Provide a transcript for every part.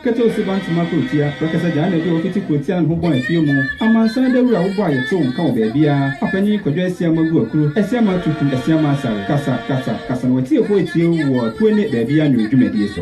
Ketew Suba Ntoma Kurotia, Prɛkɛsɛ Gyaa na ɛde wɔn fiti kurotia no ho bɔn afie mu. Amansan Dawuru a wobɔ a yɛtew wo nka wɔ baabiara, Apanyin Kwadwo Asiamah Aguakuru, Asiamah Atutu, Asiamah Asare, Kasa, Kasa, Kasa na w'atiefo atie wo wɔ apue ne baabiara nnwom dwumadie so.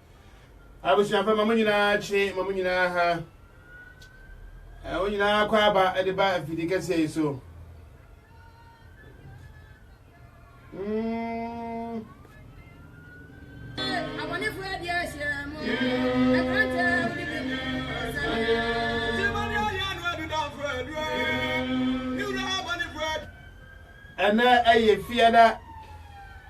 Abusuafo ma mo nyinaa kye ma mo nyinaa ha. Wɔn nyinaa kɔ aba de ba afidi kɛseɛ yi so. Mm. Abɔnefo adi ahyɛ mo. Ɛkrantɛ wuli bi mu. Jimani ayɛ anu adu damfo adu. Ne wura abɔnefo adi. Ɛnɛ ɛyɛ fiada.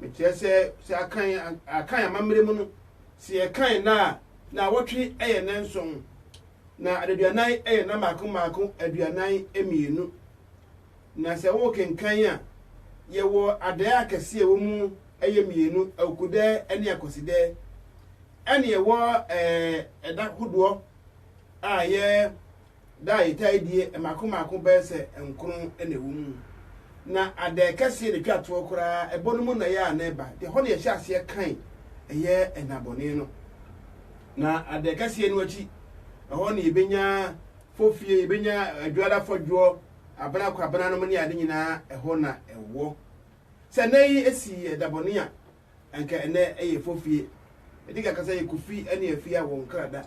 Mekyerɛ sɛ, sɛ akan akan amammerɛ mu no, sɛ yɛkan nna a, naawɔtwe yɛ nna nson, na adaduanan yɛ nna mmaako mmaako aduanan mmienu. Na sɛ worekenkan a, yɛwɔ adɛɛ akɛseɛ a ɛwɔ mu yɛ mmienu, Awukudɛɛ ne Akwasidɛɛ. Ɛne ɛwɔ ɛɛ ɛda hodoɔ a yɛ. Da a yɛtaa die mmaako mmaako bɛyɛ sɛ nkron na ɛwɔ mu. Ná adɛɛ kɛseɛ na ɛtwa toɔ koraa, ɛbɔ no mu nnɔeɛ a na ɛba, nti ɛhɔ na yɛhyɛ aseɛ kan ɛyɛ nnabɔne no. Na adɛɛ kɛseɛ no akyi, ɛhɔ na yɛbɛnya fofie, yɛbɛnya adwoada fɔdwoɔ, abena kwabenanom ne ade nyinaa ɛhɔ na ɛwɔ. Sɛ nnɛ yi ɛsi ɛdabɔne a, Anka ɛnnɛ ɛyɛ fofie. Ɛdi ka kasa yɛ Kofi ne Afia wɔn kra da.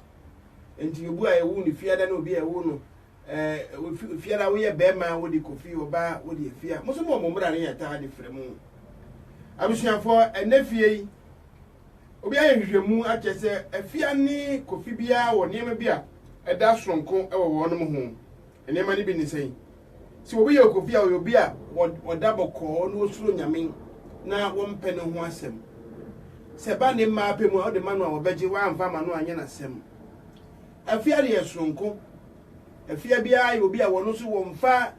Nti obu a yɛwoo no Fiada ne obi a yɛwoo no eh, Fiada woyɛ bɛɛma a wode Kofi, ɔbaa wode Afia. Mo nso mo wɔ mo mmra ne yɛtaa de frɛ mo. Abusuafoɔ ɛnnɛ fie yi, obi ayɛ nhwehwɛmu akyɛ sɛ Afia ne Kofi biara wɔ nneɛma bi a ɛda soronko wɔ wɔnom ho. Nneɛma no bi ne sɛn? Sɛ obi yɛ okopi a, ɔyɛ obi a ɔda bɔkɔɔ na osuro Nyame na wɔmpɛ ne ho asɛm. Sɛ ɛba ne mma apɛ mu a, wode ma no a wɔbɛgye, woamfa amma no a ɛnyɛ n'asɛm. Afia deɛ soronko. Afia biara yɛ obi a ɔno nso wɔmfa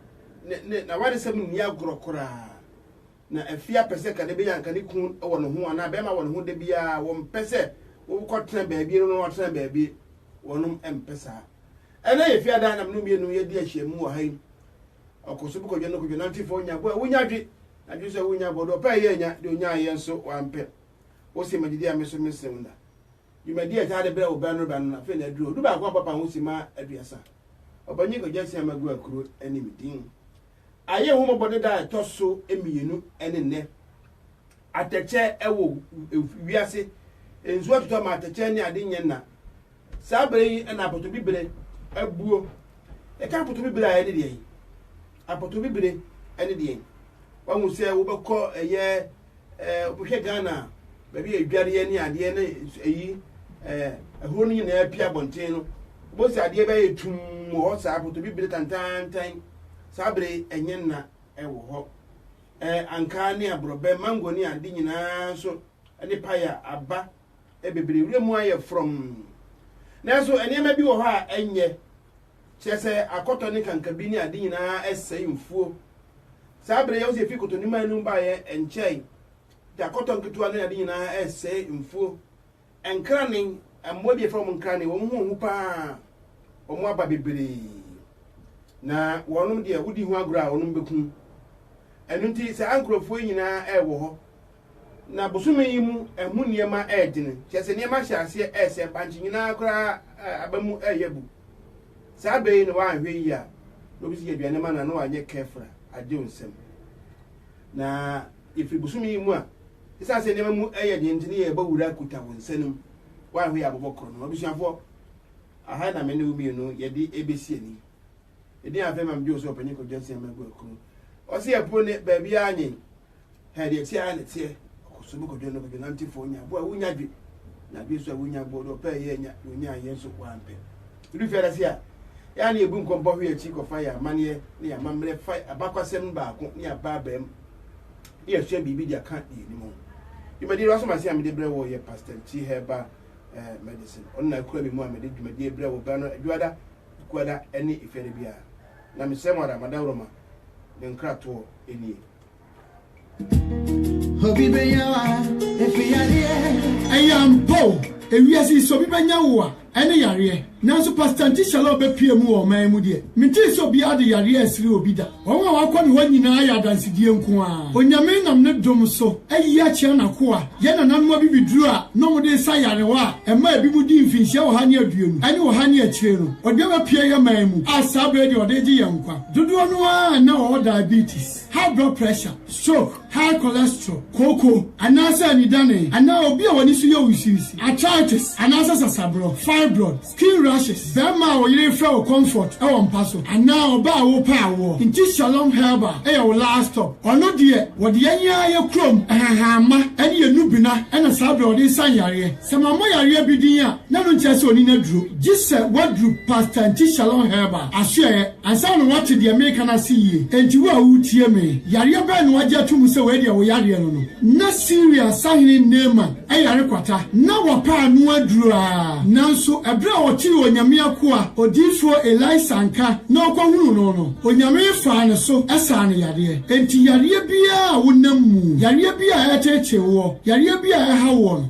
n'awaresɛm nni agorɔ koraa. Na afia pɛ sɛ kane bɛyɛ anka ne kun wɔ ne ho anaa bɛrima wɔ ne ho da biara, wɔmpɛ sɛ wokɔtena baabi na ɔno watena baabi, wɔnom mpɛ saa. Ɛnnɛ yɛ fie adan na me ne wo mmienu yɛdi ahyiam wɔ ha yi. Ɔkɔ so bu kwadwo no kwadwo nante fa onya bo a wonya dwe na dwene sɛ wonya bo ɔde ɔpɛ a yɛ anya deɛ onyaa yɛ nso wampɛ. Wo se magye di a me so me sen wo na. Dwumadi a ɛtaa de brɛ wo bɛ no bɛ no na afei na aduro du baako a papa ho si ma aduasa. Ɔpanyin Kwagye Asia Magu Akuro ne me din. Ayɛ ho mmɔbɔ ne da a ɛtɔ so mmienu ne nnɛ. Atɛkyɛ wɔ wiase nsuo atotɔ ma atɛkyɛ ne ade nyɛ na. Saa bere yi na apotobibire abuo. Yɛka apotobibire a ɛne deɛn? Apotobibire ɛne deɛn? Wahu sɛ wobɛkɔ ɛyɛ ɛɛ wobɛhwɛ Ghana a baabi a adwareɛ ne adeɛ ne ɛyi ɛɛ ɛhuro no nyinaa pia abɔnten no wobɛhu sɛ adeɛ bɛyɛ tum wɔ hɔ saa apotobibire tantantan saa bere ɛnyɛ nna ɛwɔ hɔ ɛɛ ankaa ne aborɔbɛ mango ne ade nyinaa nso ɛne paya aba bebree. Wuram mu ayɛ frɔmm. Nanso nneɛma bi wɔ hɔ a ɛnyɛ. Kyerɛ sɛ, akɔtɔ ne kankabi ne ade nyinaa sɛe mfuo. Saa bere yi a Yosef fi kɔtɔniman no mu baeɛ nkyɛe nti, akɔtɔ nketewa ne ade nyinaa resɛe mfuo. Nkranen, mmoa bi a yɛfrɛ wɔn nkranen, wɔn ho hu pa ara. Wɔn aba bebree. Na wɔnom deɛ, wodi ho agorɔ a, wɔnom bɛku wo. Ɛno nti, saa nkurɔfoɔ yi nyinaa wɔ hɔ. Na bosome yi mu ɛho nneɛma redwene, kyerɛ sɛ nneɛma ahyɛ aseɛ resɛe, bankye nyinaa koraa aba mu reyɛ bu. Saa berɛ yi na woanhwɛ yie a, na obi sɛ yɛ aduane ma no a, na wanyɛ careful a, agye wo nsam. Na yɛfiri bosome yi mu a, ɛsiane sɛ nneɛma mu yɛ den nti, na yɛrebɔ wura kuta wo nsa no mu, woanhwɛ yie a abobɔ korɔ no. Abusuafoɔ, aha na me ne wo mmienu yɛde ɛbɛsi ani. Ɛdin afei ma megye wo sɛ Ɔpanyin Kwadwo Asiamah Aguakuro. Ɔse ɛpo ne baabiara nye. Hɛ, deɛ ɛteɛ ara na ɛteɛ, ɔkɔ so bɛkɔdwo no kɔdwo nantefoɔ nya boɔ a wonya dwe, na dwe nso a wonya boɔ no ɔpɛ a ɛyɛ anya, na ɔnya ayɛ nso wampɛ. Ɛdu fiada ase a, yɛn ara na yɛbu nkɔmpɔ hwe akyi kɔfa yɛn amanneɛ ne yɛn amammerɛ fa abakwasɛm no baako ne abaabaam na yɛasua biribi de aka deɛ ɛnim ho. Dwumadie no asom ase a mede brɛ wo yɛ Pastor Nchi Herbal eh, Medicine. Ɔno na akura me mu a mede dwumadie brɛ wo berɛ no adwoada, ekuada ne efiada biara. Na mesrɛ mo ara, madaworo ma, me nkratoɔ nie. Obi benya wa efi yareɛ. Ɛyɛ ampa o, ewiase yi sɛ obi bɛnya wo a, ɛne yareɛ. Nanso Pastor Auntie Shalom bɛpue mu wɔ ɔman yi mu deɛ, mentee sɛ obiara de yareɛ resere obi da. Wɔn a wɔakɔ ne hɔ nyinaa ayɛ adansedie nko ara. Onyame nam ne dom so ayi akyerɛ n'akoa, yɛn nananom abibiduro a na wɔde resa yarewa a ɛma ebinom di mfinhyia ɔha ne aduonu ne ɔha ne akyire no. Ɔde bɛpue yɛn man mu a saa berɛ yi deɛ ɔde regye yɛn nkwa. Dodoɔ no ara a na wɔwɔ diabetes, high blood pressure, stroke, high cholesterol, kooko anaasɛ anidane, anaa obi a w'ani so yɛ wusiwusi, arthritis anaasɛ sasaborɔ, fibroid, skin rashes, barima a wo yere refrɛ wo comfort wɔ mpa so, anaa ɔbaa a worepɛ awoɔ nti Shalom Herbal yɛ wo last stop. Ɔno deɛ wɔde yɛn ara yɛ kurom nhahamma ne yɛn nnubena na saa berɛ a wɔde resa nyareɛ. Sɛ mabɔ yareɛ bi din a, na no nkyerɛ sɛ ɔni no aduro, gye sɛ waduru Pastor Nti Shalom Herbal asoɛeɛ ansa na wate deɛ mereka no ase yie. Enti wo a woretie me, yareɛ bɛn na wagye ato mu sɛ wei deɛ wo yareɛ no no? Ná Siria sahene Naaman yare kwata. Ná wapa ano aduro ara. Nanso, ɛberɛ a ɔtee Onyame akoa odiyifoɔ Elisa nka na ɔkɔhunuu no no, Onyame faa ne so saa no yadeɛ. Enti yareɛ biara a wonam mu, yareɛ bi a ɛreteetee woɔ, yareɛ bi a ɛhaw woɔ no,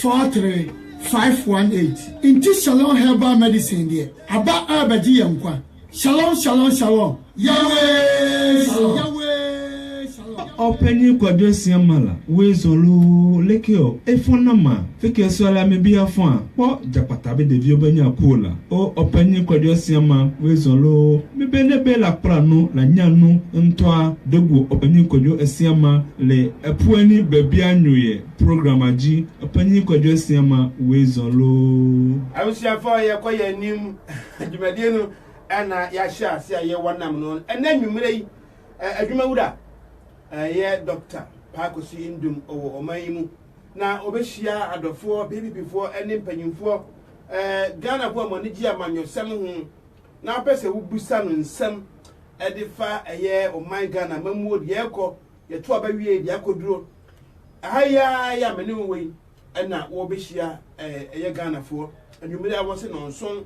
four three five one eight. Nti shalom herbal medicine deɛ aba rebɛgye yɛn nkwa shalom shalom shalom Yahweh shalom Yahweh shalom. Ɔpanyin Kwadwo Asiamala, Weasel o, Lekki o, Efon na ma, Fike Suala me bia fon a, kpɔ Jakpata be devi obe nya cool la o, Ɔpanyin Kwadwo Asiama, Weasel o, me be ne be la kpla nu la nya nu ntɔa, Degu Ɔpanyin Kwadwo Asiama le, Ɛpoani bɛbia nyoyɛ. Program agye ɔpanyin Kwadwo Asia ma Weasel oo. Abusuafo a yɛkɔ yɛn anim dwumadie no na yɛahyɛ ase a yɛwɔ nam no ɛnɛ nwummerɛ yi adwuma wura ɛyɛ Doctor Paakosi Ndum ɔwɔ ɔman yi mu na ɔbɛhyia adɔfoɔ PPP foɔ ɛne mpanyinfoɔ ɛɛ Ghana foɔ a wɔn ani gye amanyɔsɛm ho na wopɛ sɛ wobusa no nsɛm ɛde fa ɛyɛ ɔman Ghana mamuo deɛ ɛkɔ Yɛto aba wiei de akɔduro ha yi ara yi a me ne wo wɔ yi na wɔbɛhyia ɛyɛ Ghanafoɔ. Anwummere a wɔse nnɔnson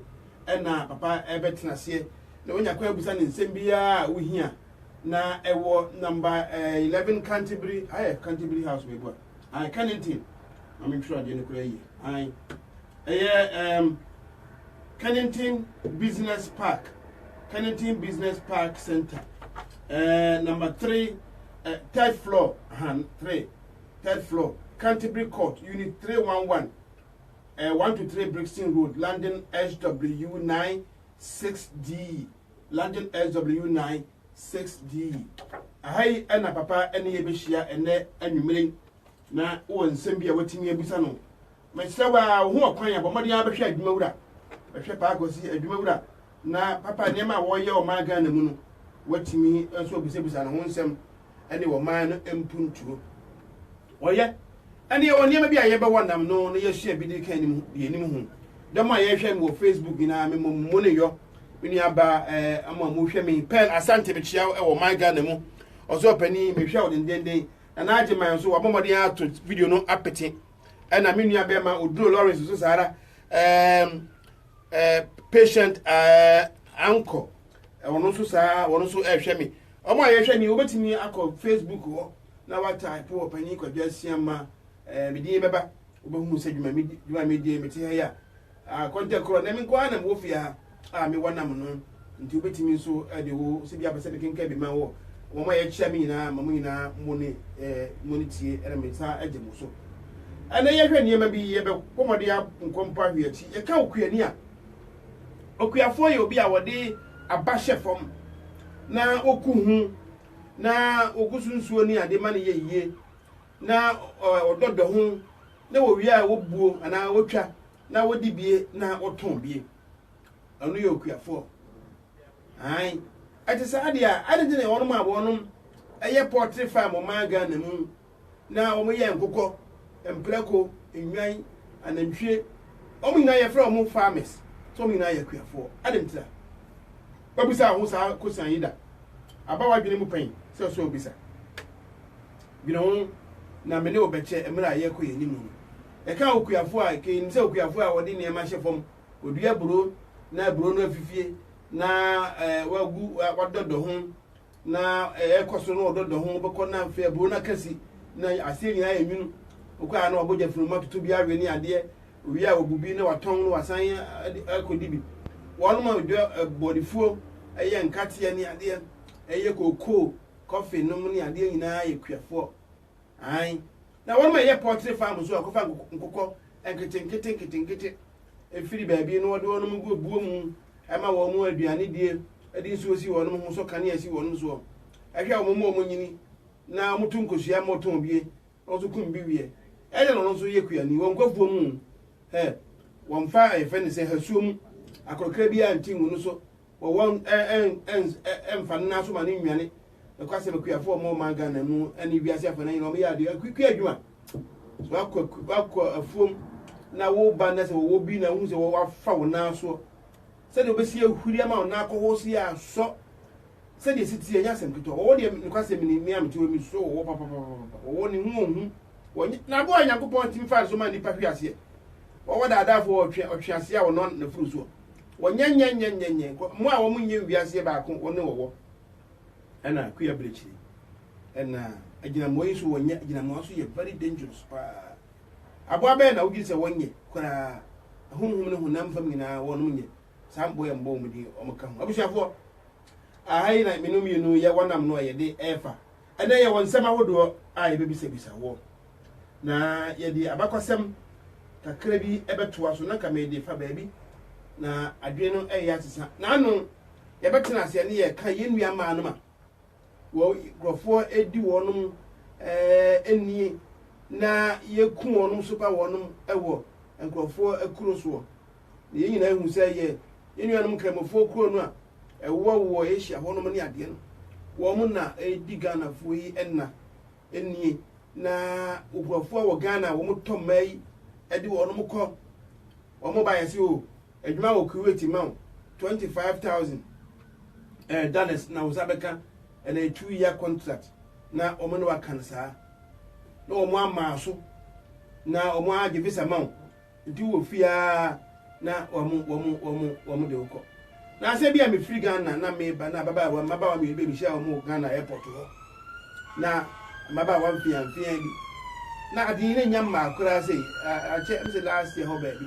na papa ɛbɛtena aseɛ na wonya kwan abusa ne nsɛm biara a wohia na ɛwɔ namba 11 Canterbury ayɛ Canterbury House wei boa ae Kennington ma mentwerɛ adeɛ no koraa yie ae Ɛyɛ ɛɛm Kennington Business Park, Kennington Business Park Center, ɛɛ number three, ɛ third floor, han three, third floor, Canterbury Court, unit three one one, ɛɛ one to three Brixton Road, London SW nine six D, London SW nine six D. Aha yi ɛna papa ɛne yɛ bɛhyia ɛnɛ anwummere na wɔ nsɛm bi a watumi abisa no Mesrɛ wo a, wohu ɔkwan a, bɔ mmɔden ara bɛhwɛ adwuma wura. Bɛhwɛ Paa Kwasi, adwuma wura. Na papa, nneɛma a wɔreyɛ ɔman Ghana mu no, woatumi nso abisabisa ne ho nsɛm ne ɔman no mpuntuo. Wɔyɛ. Ɛnna yɛwɔ nneɛma bi a yɛbɛwɔ nam no na yɛasua bi de ka anim, deɛ anim ho. Dɔm a yɛhwɛ me wɔ Facebook nyinaa, me mmɔ mo ne yɔ. Me nua ba ɛɛ, mo a mohwɛ me, Pearl Asante mekyia wo wɔ ɔman Ghana mu. Ɔsɔɔpanin, mehwɛ wo dendenden. Nana Agyeman nso, wabɔ mmɔden ato video no apete. ɛna me nua bɛrima oduro lawrence nso saa ara ɛɛm ɛɛ patient ɛɛ anko wɔn nso saa wɔn nso ɛrehwɛ me wɔn a yɛhwɛ ni wobɛtumi akɔ facebook hɔ na wataapo wɔ panyin kwadwa asiama ɛɛ me din bɛba wobɛhu sɛ dwuma mi dwuma mi deɛ mete ha yi a Ah, kɔntɛ korɔ na me nko ara na mewɔ fie ha a mewɔ nam no, nti wobɛtumi nso de wo sɛ bi apɛ sɛ mekenkan bi ma wo. Wɔn a yɛakyia me nyinaa, ma mo nyinaa mo ne eh, mo ne tie na me nsa agye mo so. Ɛnɛ yɛhwɛ nneɛma bi, yɛbɛkɔ mmɔden a nkɔ mpa hwe akyi. Yɛka okuani a, okuafoɔ yɛ obi a wɔde aba hyɛ fam na oku ho na ogu so nsuo ne ade ma no yɛ yie. na wɔdɔ dɔ ho, na wɔwie a wɔbuo anaa wɔtwa na wɔdi bie na wɔtɔn bie. Ɔno yɛ okuafoɔ. Ae, ɛte saa deɛ a, ade nti na wɔnom a wɔnom ɛyɛ pɔtre farm ɔman Ghana mu na wɔyɛ nkokɔ, mprako, nnwan, anantwie, wɔn nyinaa yɛfrɛ wɔn farmers, so wɔn nyinaa yɛ akuafoɔ. Ade nti a, wabisa wo ho saa kosan yi da? Aba w'adwene mu pɛn sɛ ɔsɛ obisa? dwene ho na me ne wo bɛkyɛ mmerɛ a yɛrekɔ yɛn anim no. Ɛkaa okuafoɔ a, ɛka nim sɛ okuafoɔ a ɔde nneɛma hyɛ fam, ɔdua aburo na aburo no afifie na ɛɛ wagu wadɔdɔ ho na ɛrekɔ so na ɔdɔdɔ ho bɛkɔ na afei aburo no akasi na aseɛ nyinaa yɛ nwunu wokɔ a na wabɔ gya funuma toto bi awe ne adeɛ owie a wɔbu bi na watɔn no wasan akɔdi bi wɔnom a ɔdwa bɔdefuo ɛyɛ nkateɛ ne adeɛ ɛyɛ kokoo kɔfe nom ne adeɛ nyinaa yɛ kuafoɔ. Aane, na wɔnom a ɛyɛ pɔtre fam nso kɔfa nkokɔ nketenkete nketenkete firi baabi na wɔde wɔnom gu buo mu ma wɔnom aduane die, de nsuo si wɔnom ho, sɔ kanea si wɔnom soɔ, hwɛ wɔnom ma wɔnyini, na wɔto nkosua ma wɔtɔn bie, na ɔso kum bi wiɛ ɛdɛ na ɔno nso yɛ kuani wɔ nkwafuo mu hɛ wɔmfa ɛfɛ ne sɛ hasuo mu akorɔkra biara nti ngu no so wɔ wɔn ɛmfa no naso ma no nnwane ɛkɔ asɛm akuafoɔ ɔmɔ ɔman Ghana mu ɛne wiase afɔ no nyina ɔmyɛ adeɛ akukua adwuma wakɔ afuom na wo ba na sɛ wɔwɔ bi na wohu sɛ wɔwafa wo nasoɔ Sɛdeɛ wobɛsi ahuri ama wo nan akɔhoɔ so yi ara nsɔ. Sɛdeɛ ɛsi teɛ, ɛnyɛ asɛm ketewa. Wɔwɔ deɛ, nokwasɛm ni, me a mete hɔ yi, mesuro wɔwɔ papapapapa. Wɔwɔ no, ɛho ɔhu. Wɔnyɛ, n'aboa a Nyankopɔn tumi faa no so maa nnipa hwee aseɛ. Wɔwɔ daadaafoɔ a wɔtwe, ɔtweaseɛ a wɔnɔ n'afuru soɔ. Wɔnyɛ nyɛ nyɛ nyɛ nyɛ, kɔ, mmoa a wɔnyɛ nwiaseɛ baako, wɔne wɔwɔ. Ɛna akue abrɛkyire. Ɛna agyinamoa yi nso wɔnyɛ, agyinamoa nso yɛ very dangerous paa. Aboa bɛn na wodwen sɛ wɔnyɛ koraa? Honhom ne honam fam nyinaa, wɔnom nyɛ. Saa mboa yi mbɔɔ wɔn din, wɔn ka ho. Abusuafoɔ, aha yi na mene mmienu yɛ wɔn nam no a yɛde refa. Ɛnɛ yɛwɔ nsɛm ahodoɔ a yɛbɛbisabisa woɔ. Na yɛde abakɔsɛm kakra bi bɛtoa so, na nka mede fa baabi na adwene no reyɛ asesa. N'ano yɛbɛtena aseɛ ne yɛka yɛn nua mmaa no ma Wɔn nkurɔfoɔ di wɔnom nie, na Yeku wɔnom sopa wɔnom wɔ nkurɔfoɔ akuro soɔ. Na yɛn nyinaa hu sɛ yɛ yɛn nuanom Nkramofoɔ kuro no a ɛwɔ wɔ Asia hɔnom ne adeɛ no, wɔn na ɛredi Ghanafoɔ yi nna nie, na nkurɔfoɔ wɔ Ghana a wɔtɔ mmaa yi de wɔnom kɔ, wɔn baeɛ se oo. Adwuma wɔ Kuwait ma wo twenty five thousand eh dollars na wo nsa bɛka ɛnɛ two year contract na wɔn ne waka no saa na wɔn ama so na wɔn agye visa ma wo nti wɔ fie aa na wɔn wɔn wɔn wɔn de wokɔ na asɛ bi a mefiri Ghana na meba na ababaawa mmabaawa mmienu bɛ mehyia wɔn wɔ Ghana airport hɔ na mmabaawa mfeamfea bi na ade yi ne nya mmaa koraa sɛ akyɛ ɛm sɛ last year hɔ baabi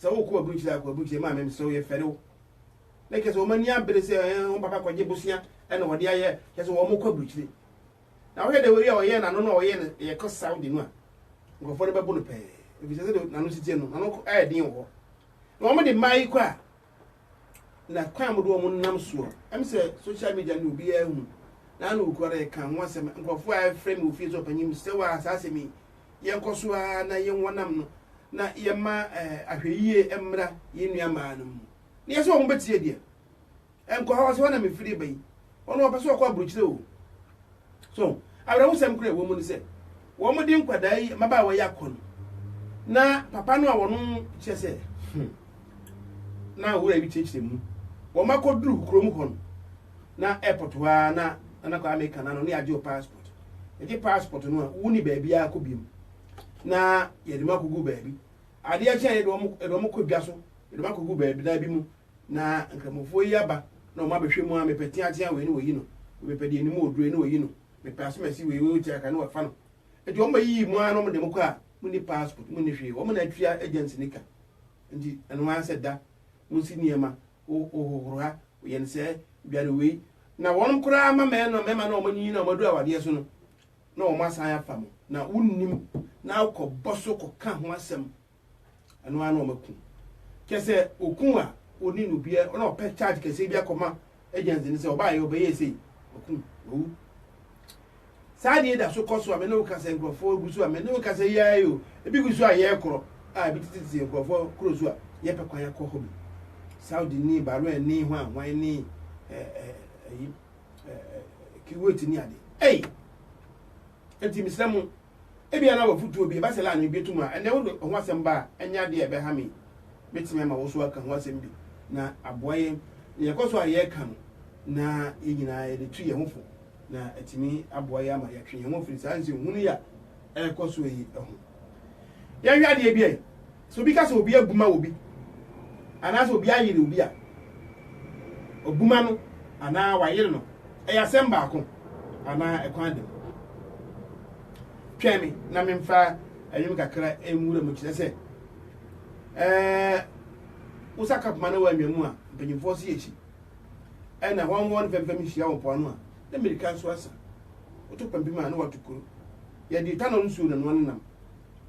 sɛ wokɔ w'aburukyiri akɔ aburukyiri maame mesrɛ wo yɛfɛre wo na kyɛ sɛ wɔn ani abere sɛ ɛɛ wɔn papa kɔgye bosea ɛna wɔde ayɛ kyɛ sɛ wɔn kɔ aburukyiri na wɔhwɛ dɛ wɔyi a wɔyɛ n'ano na wɔyɛ no yɛkɔ saudi no a nkurɔfoɔ no bɛbo no pɛɛ ebi sɛ sɛ de n'ano titiɛ no n'ano ɛyɛ den wɔ hɔ na wɔn de mmaa yi kɔ a na kwan mu do wɔn nam soɔ ɛm sɛ social media no obiara hu na ano okura dɛ ɛka ho asɛm nkurɔfoɔ a ɛfrɛ mi ofie so ɔpanyin mu sɛ waa saa asɛm yi yɛn kɔ so ara na yɛn wɔ nam no na yɛn ma ɛɛ ahwɛyie mmra yɛn nua maa no mu na yɛ sɛ wɔn bɛtie deɛ ɛnkɔ hɔ sɛ wɔn na mefiri ba yi wɔn wɔpɛ sɛ wɔkɔ aburukyire o. So awerɛhosɛm koraa a ɛwɔ mu ne sɛ, wɔde nkwadaa yi, mmabaawa yi akɔ no, na papa no a wɔn kyerɛ sɛ hmm, na wura bi kyerɛkyerɛ mu. Wɔn akɔduru kurom hɔ no, na airport hɔ ara na Nana Kwame ka na no ne agye passport. Ɛgye passport no a, wonni baabi ara kɔ biom. Na yɛde mu akɔgu baabi. Adeɛ kyɛn yɛde wɔn kɔ dwa so, yɛde wɔn akɔgu baabi na bi mu na Nkramofoɔ yi aba na wɔn abɛhwɛ mu a mepɛ teatea wei ne wɔyi no, mepɛ deɛ anim oduro ne wɔyi no, mepɛ asomasi wei wei tia ka ne wɔfa no. Nti wɔn bɛyiyi mu ara na wɔn de mo kɔ a mo ni passport, mo ni hwee, wɔn na atua agency ne ka. Nti ɛno ara sɛ da, mo nsi nneɛma, wo wohohoro ha, woyɛ no sɛɛ, dware wei, na wɔn koraa ma mɛɛ no mɛma na wɔn anyiyi na wɔn adu awadeɛ so no na wɔn asan afa mo na wo nnim na wo kɔ bɔ so kɔ ka ho asɛm ɛno ara na wɔn aku kyɛ sɛ oku a oni no bia ɔna ɔpɛ charge kɛseɛ bi akɔma agency no sɛ ɔbaa yɛ ɔbɛyɛ sei oku owu saa deɛ da so kɔ so a mene wo kasa nkurɔfoɔ gu so a mene wo kasa yi ara yi o ebi gu so a yɛyɛ korɔ a ebi tete tete nkurɔfoɔ kuro so a yɛpɛ kwan akɔ hɔ bi saudi ni bahrain ni hwan hwan ni ɛɛ ɛyi ɛɛ kiwet ni ade ɛyi. Enti mesrɛ mo, ebia na w'afotuo bi, ɛba sɛ na anwebie to mu a, ɛnnɛ wode ho asɛm ba a, ɛnyɛ adeɛ a ɛbɛha me. Mɛtumi ama wo nso aka ho asɛm bi, na aboa yɛn na yɛkɔ so a yɛreka no, na yɛn nyinaa yɛde tu yɛn ho fo, na atumi aboa yɛn ama yɛatwe yɛn ho afiri saa nsɛnhunu yi a ɛrekɔ so yi ho. Yɛnhwɛ adeɛ bi ɛ. Sɛ obi ka sɛ obi abuma obi anaasɛ obi ayere obi a, ɔbuma no anaa wayere no yɛ asɛm baako anaa ɛkwan da mu. Twɛn me na memfa ɛnwom kakra nwura mu kyerɛ sɛ ɛɛ wosa kapoma na wɔanwa mu a mpanyimfoɔ se akyi ɛna wɔn wɔn fɛmfɛm hyia wɔ mpoano a na mmirika nso asa woto pampim a na wɔato kuro yɛde tanɔ nsuo na noa ne nam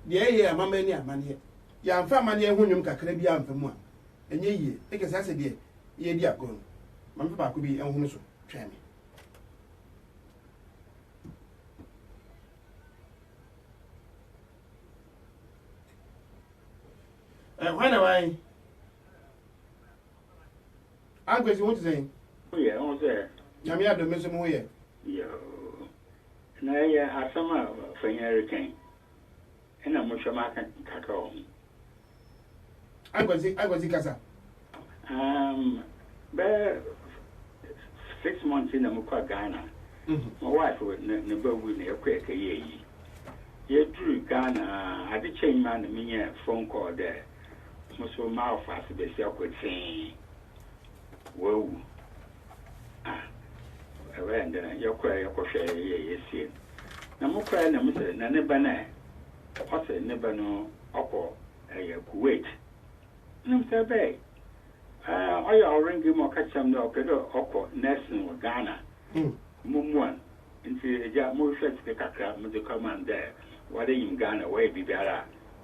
Nea ɛyɛɛ a ama manni amanneɛ, Yɛamfa amanneɛ ho nnwom kakra bi amfa mu a, ɛnyɛ yiye. Ne kɛse ara sɛ deɛ yɛredi agorɔ no. Ma memfa baako bi nhono so, Twɛn Me. Eh, hwan na wan? Ankwesi, ho te sɛn? Woyɛ, ho sɛ? Nyame adom, me nso mo ho yɛ. Yoo. Na ɛyɛ asɛm a fa hia reka yi, ɛna mohwɛ maka kakra wɔ ho. Aguadzi, Aguadzi kasa. Um, bɛyɛ six months na mokɔɔ Ghana. My wife ne ne ba wui na yɛkɔ yɛkɛyɛ ayi. Yɛduru Ghana a, ade kyɛe yi ma na menya phone call dɛ mo so moafa ase besi Akwetsee. wawu a, ɛbɛyɛ dɛn a yɛkɔe a yɛkɔhwɛe a yɛyɛe a yɛsiee no? Na mokɔe na mose, na ne ba no ɛ? Ɔse, ne ba no ɔkɔ ɛyɛ Kuwait. Wonim sɛ ɛbɛɛe? Ɛɛ, ɔyɛ ɔwrenke ma ɔka kyerɛɛ me dɛ ɔpɛ dɛ ɔkɔ nursing wɔ Ghana. Mommua no. Ntsi Egya, mohwehwɛɛ sika kakra medze kɔmaa no dɛ wɔde nyim Ghana, wɔyɛ biribiara a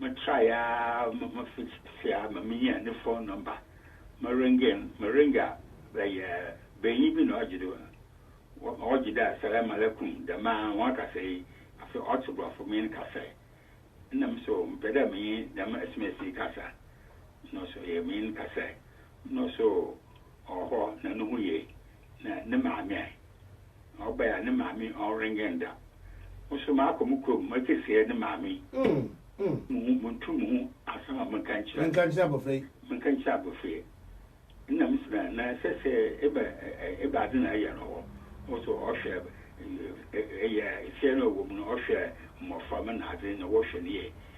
Metrae ara ma mafi ase ara ma minyaa ne fon nɔmba. Merenge no, merenge a, bɛyɛ banyin bi na ɔgye do. Ɔgye do a, Salam alaikum, dɛm ara, hɔn kasa yi, afei ɔtse Borɔfo menyin kasa yi. Nna me so mepɛ dɛ menye dɛm sms yi kasa. Nna ɔse ɔyɛ menyin kasa yi. Nna ɔse oh, ɔwɔ hɔ na no ho ye. na ne maame ɛ? Na ɔbae a ne maame ɔnwengɛn da. Mo nso maakɔ mo kurom, moakɛsiɛ ne maame. Mo ho, montu mo ho asɛm a monka nkyerɛ. Menka nkyerɛ abɔfra yi. Menka nkyerɛ abɔfra yi. Nna me sɛ na ɛsɛ sɛ eba eba ade na ɛyɛ no hɔ. Wo nso ɔhwɛ ɛyɛ ɛfiɛ na ɔwɔ mu no ɔhwɛ mmɔfra ma na ade na wɔhwɛ no yie.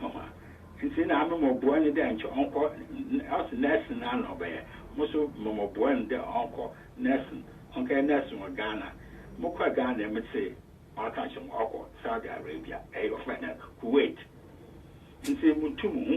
mama ntsi na ame mɔboa no dɛ nkyɛ ɔnkɔ ɔse nursing no ana ɔbɛyɛ mo so mɔmɔboa no dɛ ɔnkɔ nursing ɔnkɛyɛ nursing wɔ Ghana mokɔr Ghana me tse ɔaka kyerɛ mo ɔkɔ Saudi Arabia ɛyɛ ɔfrɛ no Kuwait ntsi mutum ho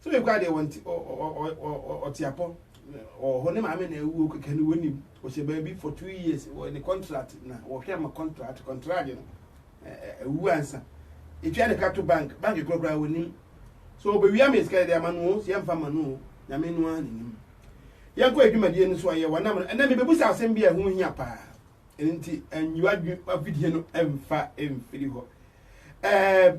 Philip koraa deɛ wɔn ti ɔte apɔ ɔwɔ hɔ ne maame na ɛwuo kɛkɛ no wɔnim ɔhyɛ baabi for two years wɔ ne contract na wɔhwɛ ama contract contract no ɛwu ansa ɛtwa ne ka to bank bank korɔ koraa wɔnim so ɔbɛwia me sika deɛ ama no sɛ yɛmfa ma no nyame no a nenim yɛnkɔ adwumadie no so ayɛ wɔnam no ɛnɛ mebɛbu sɛ asɛm bi a ɛho hia paa ɛno nti anyiwa adwe afidie no ɛmfa ɛmfiri hɔ ɛɛ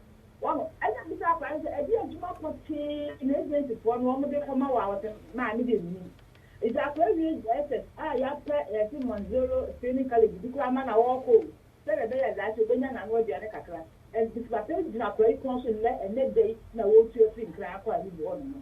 Wahu? Ɛnna mibisaa akwadaa no sɛ, Ɛdeɛn adwuma pɔtee na agensifoɔ no wɔde kɔma wo a wɔsɛ ma? Me deɛ mennim. Enti akwadaa yi wie JSS a, yɛapɛ yɛse Monzero Screening College bi koraa ma na ɔrekɔ o, sɛdeɛ ɛbɛyɛ daakye ɔbɛnya n'ano aduane kakra. Ɛnti Papa yi gyina akwadaa yi kɔn so nnɛ, ɛnnɛ da yi na wɔretu afiri Nkran akɔ Ahibu hɔnom no.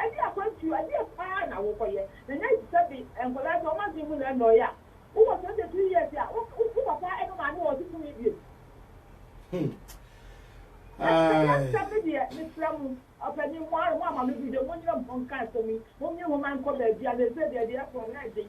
Ɛne akwantuo adeɛ paa na wo kɔyɛ na nya te sɛ be nkwadaa sɛ wɔn adwene mu na ɛnɔɔye a wo wɔ twenty three years a wo wo papa ɛne maame wɔ ɔse tumi biom. Ɛsɛ yɛ asɛm no deɛ mesrɛ mo ɔpanin mo ara mo ama me gu dɛ mo nyina mo ho nka asɛm yi mo nwi ho ma nkɔ baabi a na ɛsɛ deɛ deɛ ɛkorɔ na ɛden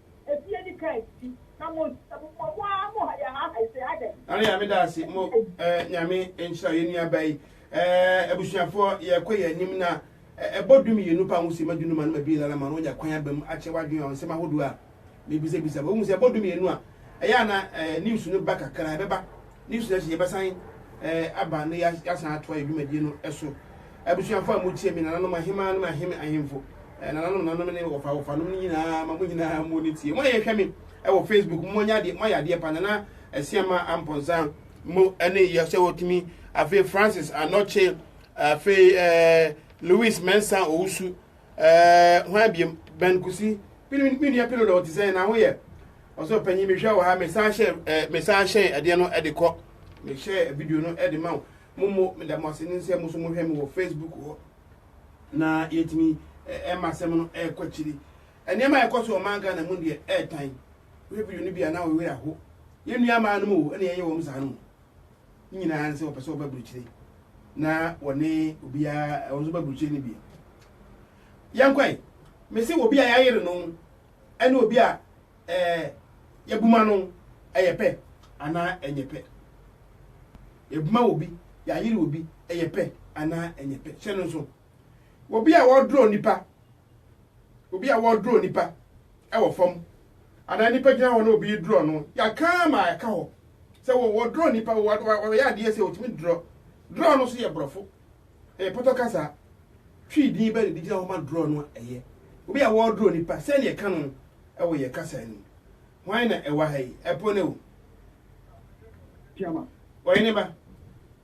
Efi edi kan si na mo nsi na mo mo mo ara mo ha yɛ ha ha ese adɛn. Nana Nyame daase mo eh Nyame nhyira yɛn nua ba yi eh abusuafoɔ yɛkɔ yɛn anim na eh ɛbɔ du mmienu pa ho se madu numa numa bi lala ma no nya kwan aba mu akyɛ wadwen wɔn nsɛm ahodoɔ a mebisa bisa ba wohu sɛ ɛbɔ du mmienu a ɛyɛ a na eh news no ba kakra ɛbɛba Newsletter yi yɛbɛsan aba na yɛasan atoa yɛn dwumadie no so. Abusuafo a motie me, nananom ahemmaa nom ahene ahemfo, nananom nanom ne wɔfa wɔfanom no nyinaa, ma mo nyinaa mo ne tie. Mo a yɛhwɛ me wɔ Facebook, mo anya adeɛ, mo ayɛ adeɛ pa, nana asiama ampɔnsa mo ne yɛ sɛ wɔtumi afei Francis anɔkye afei ɛɛ Louis Mensah Owusu Ɛɛ, hwan biom? Ben Kusi. Pili, me nua Pili dɔ ɔte sɛn na ho yɛ? Ɔsɛ ɔpanyin mehwɛ wɔ ha, mesan hyɛ ɛɛ mesan hyɛn ɛdeɛ no ɛde kɔ. Mehyɛ video no ɛde ma wo. Mo mo meda mo ase ne nsɛ mo so mo hwɛ me wɔ Facebook hɔ. Na yɛtumi ɛma asɛm no ɛkɔ akyiri. Nneɛma a ɛkɔ so wɔ man Ghana mu deɛ ɛɛtan. Wohwɛ video no bi a na wo werɛ aho. Yɛn nua maa no mu o, ɛna yɛyɛ wɔn saa no. ne nyinaa ne sɛ wɔpɛ sɛ wɔba aburukyire na wɔne obiara wɔn nso ba aburukyire no bi yɛnkwae mese obi a yɛayere no ɛne obi a ɛɛ yɛbuma no ɛyɛ pɛ anaa ɛnyɛ pɛ yɛbuma obi yɛayere obi ɛyɛ pɛ anaa ɛnyɛ pɛ hyɛ no nso Obi a ɔredrɔ nnipa, obi a ɔredrɔ nnipa wɔ fam, anaa nnipa gyina hɔ na obi redrɔ no, yɛaka ma ɛka hɔ sɛ wɔdrɔ nnipa, wɔyɛ adeɛ sɛ wɔtumi drɔ. Drɔ no nso yɛ borɔfo, ɛyɛ pɔtɔ kasa. Twi din bɛ na ɛde gyina hɔ ma drɔ no a ɛyɛ. Obi a wɔredrɔ nnipa, sɛdeɛ ɛka no wɔ yɛ kasa no mu. Hwan na ɛwɔ ha yi? Ɛpo ne o. Ɔhene ba.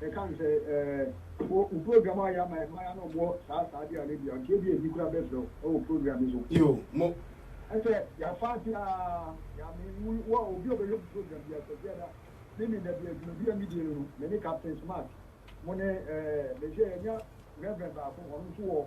bɛka no sɛ ɛɛ wo wo program a yɛ ama yɛ maya na ɔmoɔ saa saa de ale bia nti ebia ebi kura bɛfrɛ wo ɛwɔ program yi so. Yo mo. Ɛsɛ yɛfa ase aa nyame wo wo a obi a ɔbɛhwɛ mo program bia kwasi ada ne me dabi adwuma bi a me die no no me ne captain smart mo ne ɛɛ mehwɛ yɛnya reverend baako ɔno nso wɔ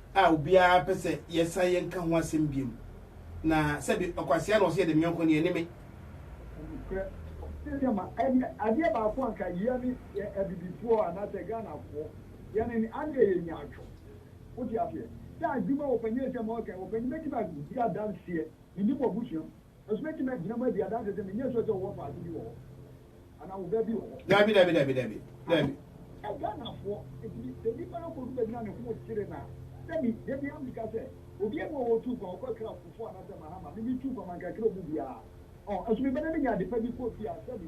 a obiara pɛ sɛ yɛsan yɛnka ho asɛm biom, na sɛbe ɔkwasea na ɔse yɛde no yɔnko no, yɛne me. Nokorɛ, seesei ma ɛnyɛ adeɛ baako anka yɛne yɛ abibifoɔ anaasɛ Ghanafoɔ yɛne no adeɛ yɛ nyaatwɔ. Wote aseɛ? Sɛ adwuma wɔpanyin asɛm a ɔreka yi, wɔpanyin bɛtumi adi adanseɛ, menim wɔ abusua mu. Nso mɛtumi agyina mu adi adanse sɛ menyɛ sure sɛ wowɔ faako bi wɔ hɔ anaa wo baabi wɔ hɔ. Dabi, dabi, dabi, dabi, dabi. Ɛ, Ghanafoɔ, enti me, sɛ nipa no kɔdu baabi na ne ho kyere no a, sɛ me, da biara meka sɛ, obiara nni hɔ a ɔtuu kwan, ɔkɔ Accra Kufuor anaasɛ Mahama, me, metuu kwan, manka kyerɛ wɔn mu biara. Ɔɔ, nso meba na menya adepa bi kɔ fie a, sɛbe.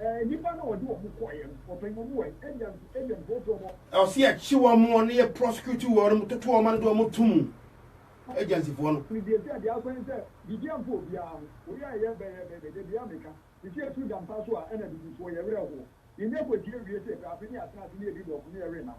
Ɛɛ, nnipa no a wɔde wɔn kɔeɛ no, wɔpɛn wɔn wɔ he? Ebia nso, ebia nka wɔpɛ wɔn wɔ. Ɛwɔ sɛ yɛkye wɔn wɔ ne yɛ prosecute wɔn mu, toto wɔn ano de wɔn to mu, agencyfoɔ no. No deɛ sɛ deɛ asɛn sɛ biribi amfa obiara ho, wei a ɛyɛ bɛ yɛ bɛ bɛ deɛ bia meka, sisi ɛtu da mpa so a ɛna abibifoɔ yɛ werɛ hoɔ, yɛnya kwatia wie sɛ pɛ afei ne yɛatena ase ne yɛdi dɔko ne yɛrenam.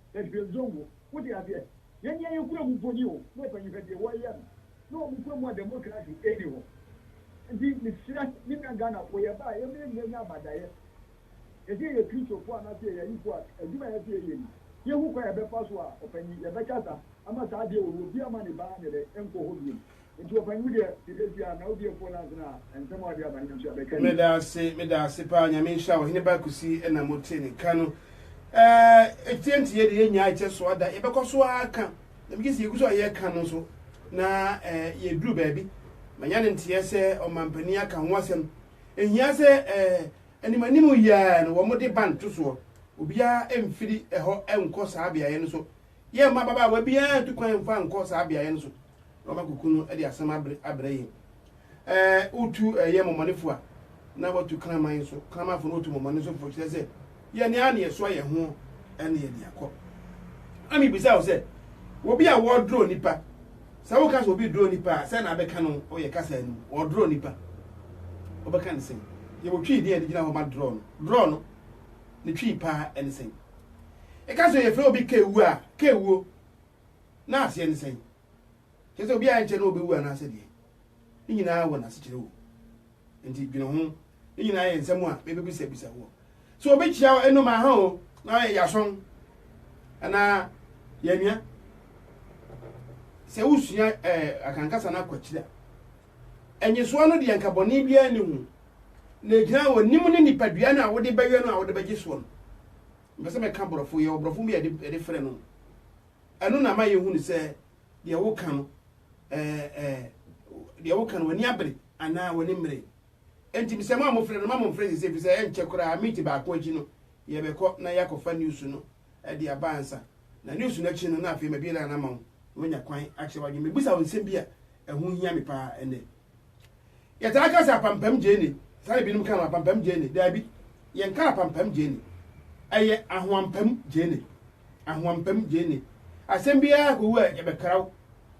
Ɛbɛn zone wo wo de adeɛ. Yɛn deɛ yɛ kura mu mpo ni o na ɔpanyin hwɛ deɛ wɔyɛ no na wɔn kura mu a democracy ɛni hɔ nti mesrɛ me nua Ghana foɔ yɛ ba a yɛ mɛ nya abadaeɛ yɛsɛ yɛyɛ Christofo anaa sɛ yɛyɛ ayifo a adwuma a yɛsɛ yɛyɛ ni yɛ hu kwan a yɛbɛfa so a ɔpanyin yɛbɛkasa ama saa adeɛ wɔ hɔ obiara ma ne ba ne dɛ nkɔ hɔ biom. Nti wɔfa ngu deɛ yɛbɛsi a na odiefoɔ no asene a nsɛm a ɔde aba no nso abɛka yie. Meda ase meda ase paa nyame nhyira wo hene ba kusi ɛna mo tie ne nka no ɛɛ etie nti yɛ de yɛ nyaa ɛkyɛ so ada yɛbɛkɔ so ara ka na megye si yɛgu so a yɛ ka no nso na ɛɛ yɛ duru baabi manya ne nteɛ sɛ ɔmampanin aka ho asɛm ehia sɛ ɛɛ anim anim yɛɛ no wɔn de ban to soɔ obiara mfiri ɛhɔ nkɔ saa beaeɛ no so yɛmma ababaawa biara ntu kwan mfa nkɔ saa beaeɛ no so na wɔn akɔku no de asɛm abrɛ abrɛ yɛn. Ɛɛ wotu ɛyɛ mmɔmɔnefo a, na watu kraman nso. Kramanfo no wɔtu mmɔmɔne nso fo kyerɛ sɛ yɛn ara na yɛsoa yɛn ho ɛne yɛde akɔ. Na mebisa wo sɛ, obi a wɔdoro nipa, sɛ woka sɛ obi doro nipa a, sɛ na abɛka no ɔyɛ kasa no mu, ɔdoro nipa, ɔbɛka ne sɛn? Yɛwɔ twii bi a yɛde gyina hɔ ma dorɔ no, dorɔ no, ne twii paa ɛne sɛn? ɛka sɛ yɛfrɛ obi kewu a kewuo na aseɛ ne sɛn kyɛ sɛ obi a ɛnkyɛ na ɔbɛwu anaasɛ deɛ ne nyinaa wɔ n'asekyerɛ wɔ nti dwene ho ne nyinaa yɛ nsɛm a mebɛbisabisa woɔ sɛ obi kyia ɛnom aha o na yɛasɔn anaa yɛnua sɛ wosua eh, akankasa no akwakyiri a ɛnyesoɔ no deɛ nkabɔne biara ne ho na ɛgyina wɔ nim ne nipadua no a wode bɛyɛ no a wode bɛgye soɔ no Mepɛ sɛ mɛka borɔfo, yɛwɔ borɔfo bi a yɛde yɛde frɛ no. Ɛno na ama yɛhu no sɛ deɛ woka no ɛɛ ɛɛ deɛ woka no w'ani abere anaa w'ani mmere. Enti mesɛ mo a mofrɛ no ma momfrɛ sese ɛfiri sɛ ɛnkyɛ koraa minti baako akyi no yɛbɛkɔ na yɛakɔfa news no de aba ansa na news no akyi no na afei mabie line no ama wo na woanya kwan akyerɛ w'adwene. Mebisa wo nsɛm bi a ɛho hia me paa ɛnnɛ. Yɛtaa ka sɛ apampam gyeene, saa na ebinom ka no, apampam gyeene. Daabi, yɛnka apampam gyeene. Ɛyɛ ahoampam gyeene. Ahoampam gyeene. Asɛm biara kowu a, yɛbɛkra wo.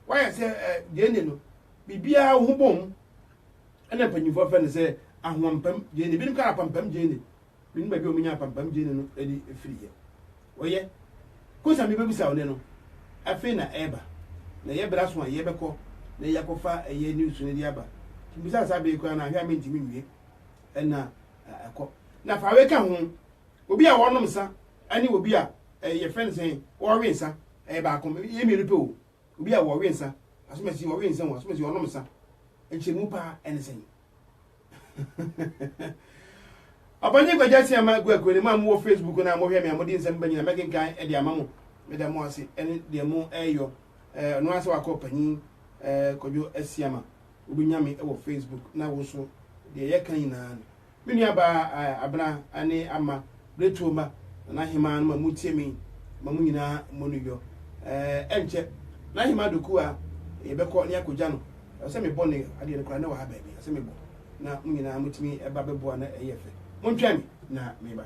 Woayɛ sɛ eh, gyeene no, biribiara wo ho bom. Ɛna mpanyimfoɔ fɛ no sɛ ahoampam gyeene. Ebinom ka no apampam gyeene. Menim baabi a wɔnya apampam gyeni no de firi ɛ. Wɔyɛ. Ko sa mebɛbisa wo nɛ no, afei na ɛreba. Na ɛyɛ berɛ aso a yɛbɛkɔ na yɛakɔfa ɛyɛ news no de aba. Nti bisa saa bere koraa no a, hwɛ a mentumi nwie. Ɛna ɛkɔ. Na fa wei ka ho, obi a ɔrenom nsa ne obi a yɛfrɛ no sɛn, ɔrewe nsa, ɛyɛ baako. Ɛyɛ mmienu pɛ o. Obi a ɔrewe nsa, asomasi ɔrewe nsa o, asomasi ɔrenom nsa. Nkyerɛmu paa ne sɛn? ɔpanyin kwagya si ama agu agu ne maa mo wɔ facebook na mohwɛ me a mode nsɛm ba nyina mɛkenkan ɛde ama mo meda mo ase ɛne deɛ mo ɛyɔ ɛno asɛ wakɔ ɔpanyin kwadwo asi ama wobɛnya me wɔ facebook na wo so deɛ yɛka nyinaa no me nuabaa abena ne ama Pretuo mma na n'ahemaa no ma motie me ma mo nyinaa mmɔ no yɔ. Ɛnkyɛ, n'ahemaa Doku a yɛbɛkɔ na yɛakɔgya no, ɛwɔ sɛ mebɔ no yɔ. Adeɛ no koraa, na ɛwɔ ha baabi, ɛwɔ sɛ mebɔ na mo nyinaa motumi ba bɛboa na ɛyɛ fɛ. Montwɛn me na meba.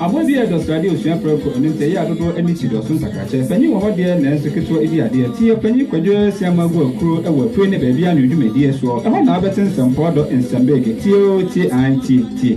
Abɔn biaa dɔ srade osua prɛko ɛno nti ɛyɛ a dodoɔ ani si dɔso nsakrakyɛ panyin wɔ hɔ deɛ nanso ketewa di adeɛ ti ɔpanyin kwadwo asiamɔ agu akuro ɛwɔ apue ne baabi anwoo dwumadie soɔ ɛhɔ na wobɛte nsɛmpɔɔ dɔ nsɛm bege tie oo tie aane tie tie.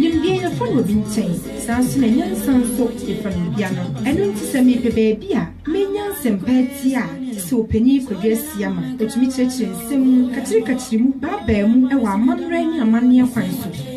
Nimdeɛ yɛfa no obi nkyɛn, saa ara nso na nyansa nso yɛfa no obi ano. Ɛno nti sɛ mepɛ baabi a menya nsɛmpa atie a, te sɛ Ɔpanin Kwadu Asiama, ɔtumi kyerɛkyerɛ nsɛm mu, kakyirekakyiri mu, baabaa mu, wɔ amammerɛ ne amanneɛ kwan so.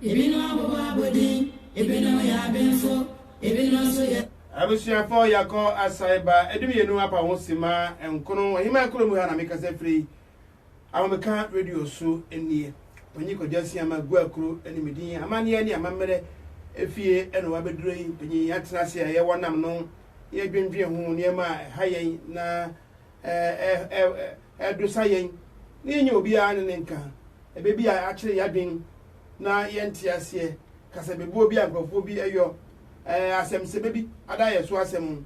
Ebinom abobɔ abodin, ebinom yɛ abenfo, ebinom nso yɛ. Abusuafo yɛakɔ asan ba dummienu apa ho simma nkono Aheman Kuro mu ha na mekasa firi Ahomeka Radio so nie. Panyin Kwadwo Asiamah Guakuro ne me din. Amanneɛ ne Amammerɛ fie na wabɛduro yi. Panyin yɛatena ase a yɛwɔ nam no na yɛdwendwen ho nneɛma a ɛha yɛn na ɛdosa yɛn na yɛnyɛ obiara ne ne nka. ɛbɛbia akyere yadwen na yɛ nteaseɛ kasa bebuo bi a nkorɔfoɔ bi yɔ ɛɛ asɛm sɛbɛ bi ada yɛ so asɛm ho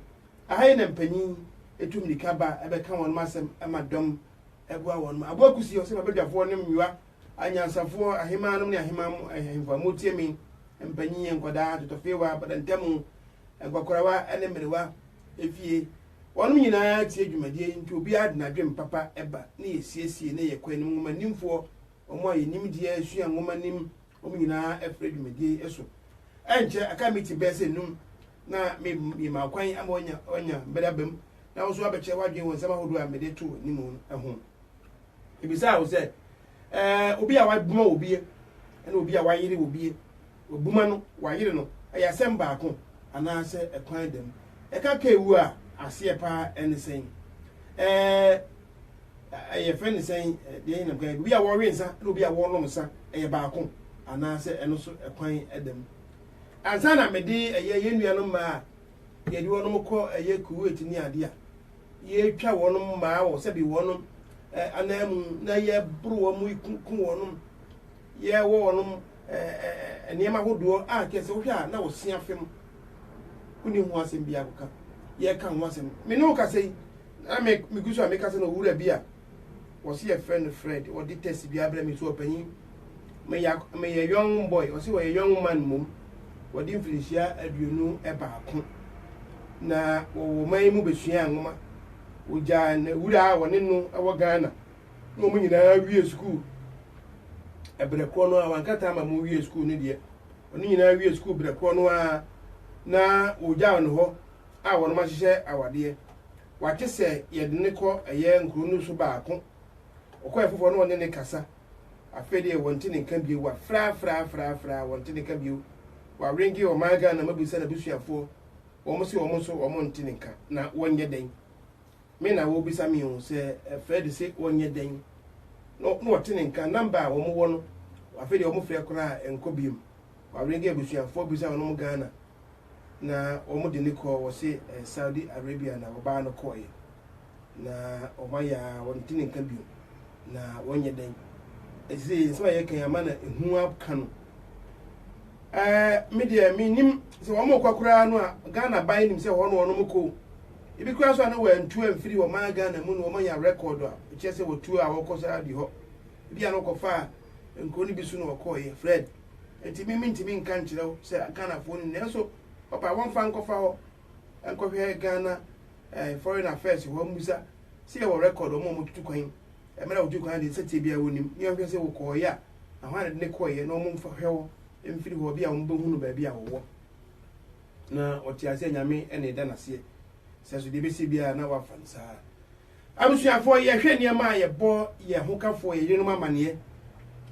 aha yi na mpanyin ɛtu mirika ba ɛbɛka wɔnom asɛm ɛma dɔm ɛboa wɔnom aboa kusi ɔsɛ ma badwafoɔ nom nyoa anyansafoɔ ahemaa nom ne ahemaa mo ahemfo a motie me mpanyin nkwadaa totɔfeewa badantamu nkwakorawa ɛne mmerewa efie Wɔnom nyinaa tie dwumadie yi nti obiara de n'adwene papa ba na yɛsiesie na yɛkɔ anim Nwoma nimfoɔ, wɔn a yɛn nimdeɛ sua nwoma nim wɔn nyinaa frɛ dwumadie yi so Ɛnkyɛ aka meeting bɛyɛ sɛ num na me mema wo kwan ama wanya wanya mmere aba mu na wo nso abɛkyerɛ w'adwene wɔ nsɛm ahodoɔ a mede to w'anim no ho Mebisaa wo sɛ ɛɛ obi a waboma wɔ bie ɛne obi a wayere wɔ bie Wabuma no, wayere no, ɛyɛ asɛm baako anaasɛ ɛkwan da mu. Ɛka ka ewu a, aseɛ paa ɛne sɛn? Ɛɛ, yɛfrɛ no sɛn? Deɛ ɛyɛ nam kan, obi a wɔwe nsa ne obi a wɔnom nsa, ɛyɛ baako anaasɛ ɛno nso ɛkwan da mu. Ansa na mede ɛyɛ yɛn nuanom mmaa a yɛde wɔn kɔ ɛyɛ Kuwait ne adeɛ a, yɛtwa wɔn mmaa wɔ sɛbi wɔn ananmu na yɛboro wɔn, ku wɔn. Yɛ wɔ wɔnom ɛɛ nneɛma ahodoɔ a kyerɛ sɛ wohwɛ a na wɔ sua fam wonni ho asɛm biara kɔka yɛ ka ho asɛm me ne wo kasa yi na me megu so a mekasa na owura bi a wɔse yɛfrɛ no Fred wɔde test biara brɛ me so ɔpanyin meyɛ meyɛ young boy wɔse wɔyɛ young man mmom wɔde mfirinhyia aduonu baako na wɔwɔ man mu bɛsua nwoma wɔgyaa na wura a wɔne no wɔ Ghana na wɔn nyinaa wie sukuu ɛbrɛ korɔ no ara wankata ama wɔn wie sukuu no deɛ wɔn nyinaa wie sukuu brɛ korɔ no ara na wɔgya wɔn hɔ a wɔn ahyehyɛ awadeɛ wate sɛ yɛde ne kɔ ɛyɛ nkuro no so baako ɔkɔ ɛfoforɔ na ɔne ne kasa afei deɛ wɔn ti ne nka bio wafrafrafrafra wɔn ti ne nka bio wawenke ɔman ghana mabisa n'abusuafoɔ wɔn se wɔn nso wɔn nti ne nka na wɔnyɛ dɛn Me na wɔrebisa me o, sɛ Fred se ɔnyɛ dɛn, na wɔte ne nka, number a wɔwɔ no, afei deɛ wɔfrɛ koraa a ɛnkɔ biom. Waringe abusuafoɔ bisa wɔn mo Ghana na wɔde no kɔɔ, wɔse Saudi Arabia na wɔbaa no kɔɔeɛ, na wɔayɛ a wɔnte ne nka biom, na wɔnyɛ dɛn. Ɛsei nsɛm a yɛreka yi ama no ehu aka no. ɛɛ me deɛ menim sɛ wɔn rekɔ koraa no a ghana ban nim sɛ hɔ no wɔn kɔ ebi koraa so a na wɔantu amfiri wɔn ghana mu na wɔanya record a ɛkyerɛ sɛ wɔtuo a wɔkɔ saa bi hɔ ebi a na wɔkɔfaa nkuro no bi so na wɔkɔɔyɛ fred nti me mentumi nka nkyerɛ wo sɛ ghanafoɔ no nanso papa wɔmfa nkɔfa hɔ nkɔhwɛ ghana eh, foreign affairs hɔ mmusa sɛ yɛwɔ record wɔn a wɔtutu kwan mmerɛ wɔtutu kwan deɛ sɛteɛ biara wɔnim ne wɔhwɛ sɛ wɔkɔɔyɛ a na hɔ ara na ɛde no kɔeɛ na wɔmfahwɛ wo mfiri hɔ, bi a wɔbɛhunu baabi a wɔwɔ. Na ɔte aseɛ Nyame na ɛda no aseɛ, sɛ so deɛ ɛbɛsi biara na wafa no saa. Abusuafoɔ, yɛhwɛ nneɛma a yɛbɔ yɛn hokafoɔ, yɛn yerenom amaneɛ,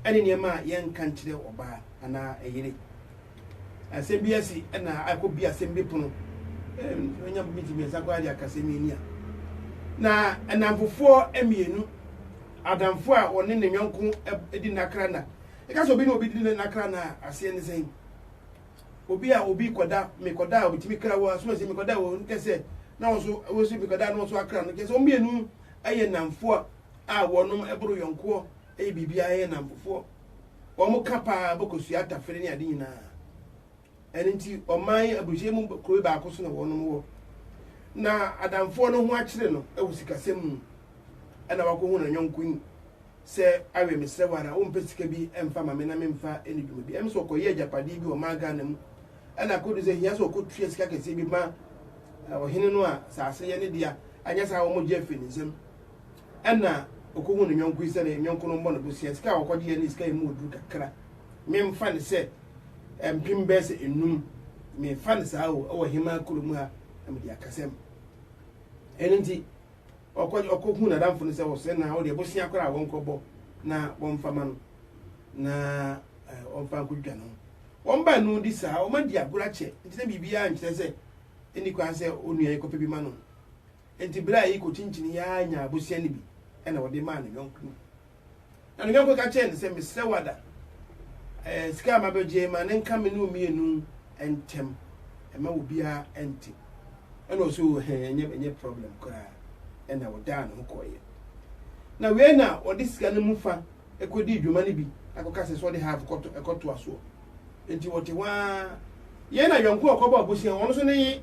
ɛne nneɛma a yɛnka nkyerɛ ɔbaa anaa ɛyere. asɛm bi asi na akɔ bi asɛm bi pono nya minti mmiɛnsa koraa de akasɛm yi ni a na ɛnamfofoɔ mmienu adamfo a ɔne ne yɔnko di nakra na ɛka sɛ obi ne obi di ne nakra na aseɛ ne sɛn obi a obi kɔda mekɔda a obitumi kra wɔ asoma sɛ mekɔda wɔ nkɛ sɛ na wɔn so wɔn so mekɔda na wɔn so akra no kyɛ sɛ wɔn mmienu yɛ namfoɔ a wɔnom ɛboro yɔnkoɔ ɛyɛ biribiara yɛ namfofoɔ wɔn ka paa bɛkɔsua atafere ne ade nyinaa. Ɛno nti ɔman yi aburokyire mu kuro yi baako so na wɔnom wɔ. Na adamfoɔ no ho akyere no wɔ sikasɛm mu ɛna wakɔhu no nyɔnko yi sɛ awɛ mesrɛ wo ara wompɛ sika bi mfa ma me na memfa ne dwuma bi ɛm sɛ ɔkɔyɛ agyapadeɛ bi ɔmaa Ghana mu ɛna akɔdu sɛ hia sɛ ɔkɔtua sika kɛseɛ bi ma ɔhene no a saase yɛ ne dea anyɛ saa wɔmɔgye afiri ne nsam Ɛna ɔkɔhu ne yɔnko yi sɛ ne yɔnko no mmɔ no bosea. Sika a ɔkɔgyeɛ ne sika a ɛmu ɔduru kakra. Memfa no sɛ mpem bɛyɛ sɛ nnum. Mefa no saa o, ɛwɔ hemaa kuro mu ha na mede akasɛm. Ɛno nti, ɔkɔ ɔkɔhu n'adamfo no sɛ wɔsɛ na wodeɛ bosea koraa a wɔnkɔbɔ na wɔmfa ma no na wɔmfa nkɔdwa no. Wɔn baanu di saa, wɔadi agorɔ akyɛ nti na biribiara nkyerɛ sɛ ɛnni kwan sɛ onua yi kɔpɛ bi ma no. Enti bere a Iko kyinkyinii ara nyaa abosea no bi na ɔde maa ne yɔnko no. Na ne yɔnko ka kyerɛɛ no sɛ, Mesrɛ wo Ada, eh, sika a mabɛgye yi, ma no nka me ne wo mmienu ntam, mma obiara nte. Ɛnna ɔsɛ o, hɛn, ɛnyɛ, ɛnyɛ problem koraa. Ɛnna ɔdaa ne ho kɔeɛ. Na wei na ɔde sika no mu fã kɔdii dwuma no bi kɔka sɛ sɛ ɔde half kɔtɔ ɛkɔtoa soɔ nti wɔte hɔ ara yɛn na yɔnko a ɔkɔbɔ abusua wɔn nso ne ye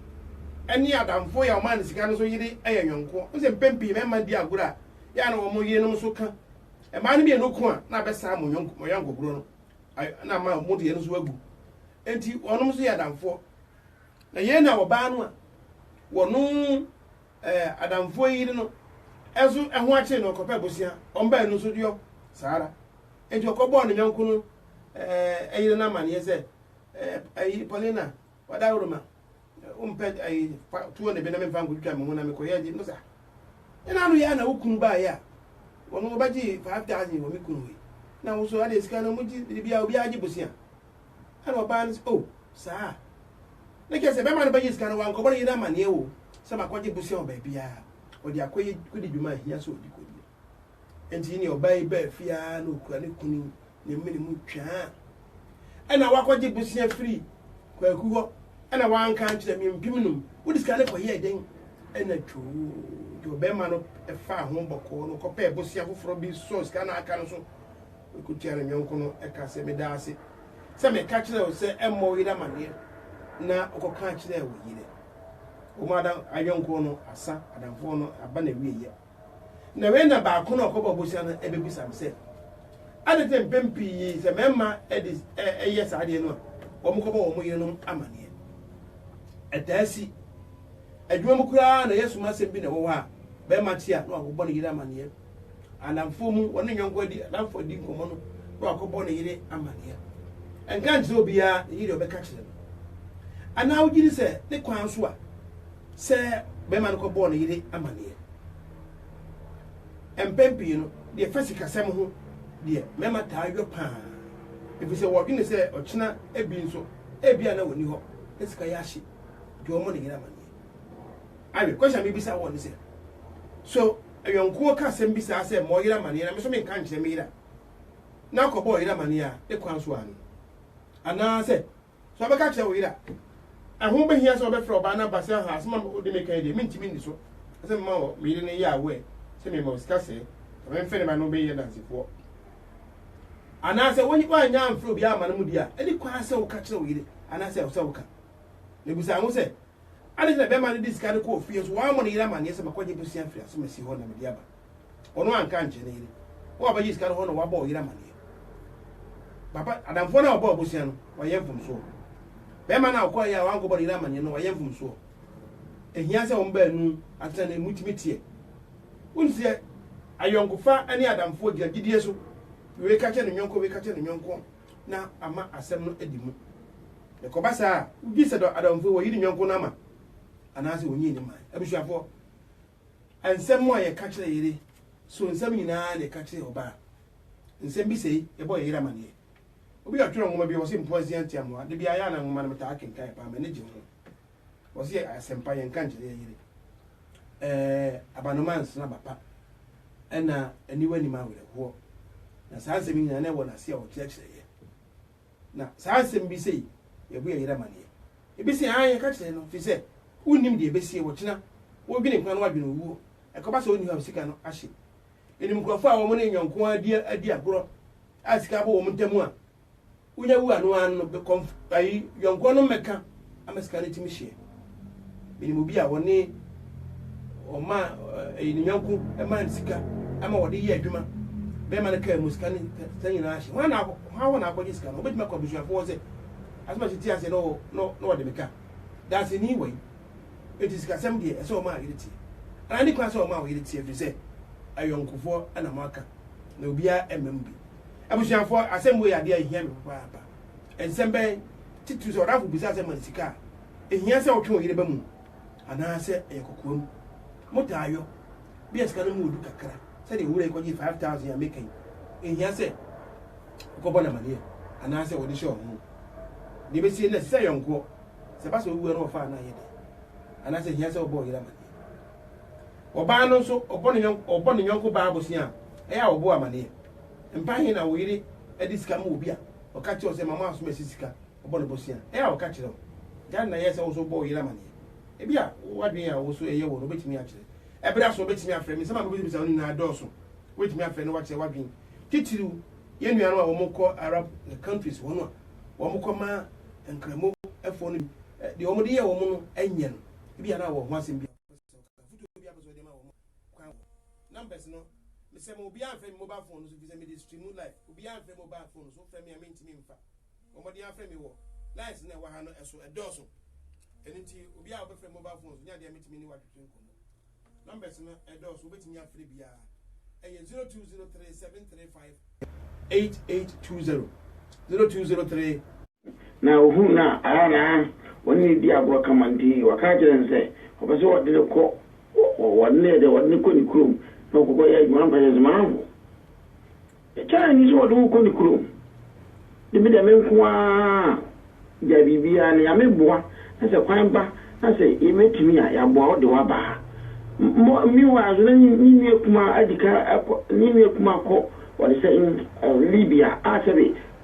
ɛne adamfo yɛ ɔmaa ne sika no nso yere ɛyɛ yɔnko n sɛ mpɛn pii mɛma di agorɔ a yɛ na wɔn yere nom nso ka ɛmaa no mmienu ko a na abɛsaa mo yɔnko mo yɔnko korɔ no na ama wɔn deɛ no nso agu nti wɔn nso yɛ adamfoɔ na yɛn na wɔbaa no a wɔn eh, adamfoɔ yi yere no nso ho akyere no ɔkɔpɛ bosea ɔmbae no nso deɔ saa ara enti ɔkɔbɔɔ ne yɔnko no eh, yere no amanneɛ sɛ eh, eh, Paulina wadaworo ma wompɛ eh, tuo ne bi na memfa nkɔtwitwa me ho na mekɔyɛ gye no saa ɛna ano yɛ a na wo kunu baeɛ a wɔn wɔbɛgye 5000 wɔ me kunu yi na wo so ade sika no mogye biribiaa obiaa gye bosea Ɛna ɔbaa no se, Oh, saa a, na kyerɛ sɛ bɛrima no bɛgye sika no, wankɔbɔ ne yere amanneɛ o, sɛ makɔgye bosea wɔ baabiara. Ɔde akɔyɛ kodi dwuma a ɛhia sɛ ɔdi kodi no. Enti yi nea ɔbaa yi baa fie ara na ɔkura ne kunu ne mene mu twaa. Ɛna wakɔgye bosea firi Kwaku hɔ, ɛna wanka ankyerɛ me, mpem num. Wode sika no kɔyɛɛ dɛn? Ɛna twoo, nti ɔbarima no faa ho bɔkɔɔ no kɔpɛɛ bosea foforɔ bi sɔɔ sika no a aka no so. Ɔko tia ne yɔnko no ka sɛ, Meda ase sɛ meka kyerɛɛ wo sɛ mmɔ wo yere amaneɛ na wokɔka kyerɛɛ wo yere. Wɔn ada ayɔnko no asa, adamfoɔ no aba n'awieeɛ. Na wei na baako no a ɔkɔbɔɔ bosea no bɛbisa me sɛ, Adɛn nti na mpɛn pii sɛ mmarima de yɛ saa adeɛ no a, wɔkɔbɔ wɔn yerenom amaneɛ? Ɛtaa si. Adwuma mu koraa na yɛsom asɛm bi na ɛwɔ hɔ a, barima te a na wabɔ ne yere amaneɛ. Anamfoɔ mu ɔne ne yɔnko adi anamfoɔ adi nkɔmmɔ no na wakɔbɔ ne yere amanneɛ. Ɛnka nkyerɛ obiara nyi deɛ ɔbɛka kyerɛ no. Anaa wogye di sɛ ne kwan so a sɛ barima no kɔbɔɔ ne yere amanneɛ? Mpɛn pii no, deɛ ɛfa sikasɛm ho deɛ mmarima taa yɔ pa ara ɛfiri sɛ wɔdwene sɛ ɔkyena bi nso ebia na wɔnni hɔ na sika yɛ ahye nti wɔmmɔ ne yere amanneɛ. Awe, question a mebisa woɔ ne sɛ, so ayɔnkoɔ ka asɛm bi saa sɛ ma ɔyere amaneɛ na me nso menka nkyerɛ me yere a, na akɔbɔ ɔyere amaneɛ a, ne kwan so ara no. Anaasɛ, sɛ wobɛka akyerɛ wo yere a, ɛho bɛhia sɛ wobɛfrɛ ɔbaa no aba sɛ aha asɛm a wode meka yi deɛ mentumi nni so, ɛsɛ mema wɔ me yere no yɛ aware sɛ mema wo sika sɛɛ, na memfɛ ne ba no bɛyɛ dansefoɔ. Anaasɛ woannya amfrɛ obiara amma no mu deɛ a, ɛne kwan sɛ woka kyerɛ wo yere anaasɛ ɛwɔ sɛ woka. Mebisa wo sɛ, Adɛn nti na bɛrima no de sika no kɔɔ fie nso wammɔ ne yere amanneɛ sɛ makɔgye bosea afiri asomasi hɔ na mede aba? Ɔno anka ankyerɛ ne yere. Wo a wobɛgye sika no hɔ na woabɔ wo yere amanneɛ. Papa, adamfoɔ no a ɔbɔɔ bosea no, wayɛ mfomsoɔ. Bɛrima no a ɔkɔeɛ a wankɔbɔ ne yere amanneɛ no, wayɛ mfomsoɔ. Ɛhia sɛ wɔn baanu atena na motumi teɛ. Wonim sɛ ayɔnkofa ne adamfoɔ gyina gyidie so. Wei ka kyerɛ ne yɔnko, wei ka kyerɛ ne yɔnko. na ama asɛm no adi mu. Na ɛkɔba saa a, wogye sɛ dɔ adamfo yi, wɔayi ne yɔnko no ama anaasɛ wonyii no mae. Abusuafoɔ, nsɛm a yɛka kyerɛ yere, so nsɛm nyinaa na yɛka kyerɛ ɔbaa? Nsɛm bi sɛi, yɛbɔ yɛn yere amaneɛ. Obi a ɔtwerɛ nwoma bi, ɔse, Mpoasia ntiamoa, da biara yɛ a na nwoma no metaa kenkan paa, m'ani gye ho. Ɔse yɛ asɛmpa yɛnka nkyerɛ yɛ yere ɛɛ abanoma nsena bapa ɛna aniwa nim awerɛhoɔ na saa nsɛm yi nyinaa na ɛwɔ n'ase a ɔkyerɛkyerɛ yɛ na saa nsɛm bi sei yɛbu yɛ yere amaneɛ ebi se ae yɛka kyerɛ no firi sɛ wonnim deɛ ɛbɛsie wɔ kyena wodwene nkwa no wadwene owuo ɛkɔba sɛ ɔnni hɔ a sika no ahye ɛnim nkurɔfoɔ a wɔn ne nyɔnko adi agorɔ a sika abɔ wɔn ntam a wonya wu a no ara no bɛ kɔnf ayi yɔnkoɔ no mmɛka ama sika no atumi hyeɛ menim obi a ɔne ɔma ɛyi ne yɔnko ɛma ne sika ama wɔde yɛ adwuma bɛrima no kaa mu sika ne sɛ nyinaa ahye hwan na hwan hɔ na akɔgye sika no wobɛtumi akɔ abusuafoɔ sɛ asoma si ti ase na wɔde meka daaseni wɔ yi ɛti sikasɛm deɛ ɛsɛ ɔma a yere tie anaa ne kwan sɛ ɔma a ɔyere tie ɛfiri sɛ ayɔnkofoɔ na mo aka na obiara ɛmam bi Abusuafo, asɛm wei yɛ ade a ehia me papaapa. Nsɛm bɛn? Titiriw sɛ ɔdamfo bisaa sɛ ma sika a ehia sɛ wotwe wo yere ba mu anaasɛ ɛyɛ kokoam. Motaa yɔ? Bi a sika no mu wɔ du kakra, sɛnea owura yi kɔgyee five thousand a meka yi, enhia sɛ wokɔbɔ no amanneɛ anaasɛ wode hyɛ ɔhene. Nea ebesie no na ɛsɛ sɛ ayɔnkoɔ, sɛ ɛba sɛ owu a na wɔfa a na ayɛ dɛ. Anaasɛ ehia sɛ wobɔ wo yere amanneɛ. Ɔbaa no nso, ɔbɔ ne yɔnko baa bosea a, ɛyɛ a wɔbɔ amanneɛ. Mpa he na wo yere de sika ma obi a ɔka kyerɛ wo sɛ ma mo asom asi sika ɔbɔ no bosea? Ɛ a ɔka kyerɛ wo? Gyaa nea ɛyɛ sɛ wo nso wobɔ wo yere amaneɛ. Ebia w'adwene a wo so ɛyɛ wo no wobɛtumi akyerɛ. Ɛberɛ aso wobɛtumi afrɛ me. Nsɛm a mebisabisa wo no nyinaa dɔɔso. Wobɛtumi afrɛ na woakyerɛ w'adwene. Titiriw, yɛn nuanom a wɔkɔ Arab countries hɔ no a wɔkɔma Nkramofoɔ no bi deɛ wɔde yɛɛ wɔn no nyɛ no, ebia na wɔ ho asɛm bi a wopɛ sɛ woka, afotuo bi a wopɛ sɛ wode ma wɔn a. kwan wɔ numbers no me sɛ ma obiara mfrɛ me mobile phone no so efisɛ mede stream live obiara mfrɛ mobile phone no so wofrɛ me a mentumi mfa bɔ mmɔden afrɛ me wɔ lines no a ɛwɔ ha no ɛso ɛdɔɔso ɛno nti obiara a wobɛfrɛ mobile phone so nyɛ adeɛ a metumi ne woatwetwe nkɔmmɔ numbers no ɛdɔɔso wobɛtumi afrɛ biara ɛyɛ 0203 735 8820 0203 na ohuu no a, ɛhɔ ara na wɔne no dii agorɔ kama nti, ɔka kyerɛɛ no sɛ ɔpɛ sɛ wɔde no kɔ, wɔde no yɛ dɛ, wɔde no kɔ ne kurom na ɔkɔkɔyɛ adwuma. Ɔka kyerɛɛ no sɛ, M'amfo, ɛkyɛ a ɛnni sɛ wɔde wo kɔ ne kurom, de me deɛ me nko ara gyae biribiara, na Nyame boa na sɛ kwan ba na sɛ yɛbɛtumi a, yɛaboa wo de wo aba ha. Meanwhile nso, na ne nua kumaa adi kan akɔ, ne nua kumaa kɔ, wɔde sɛ Libya a sɛbe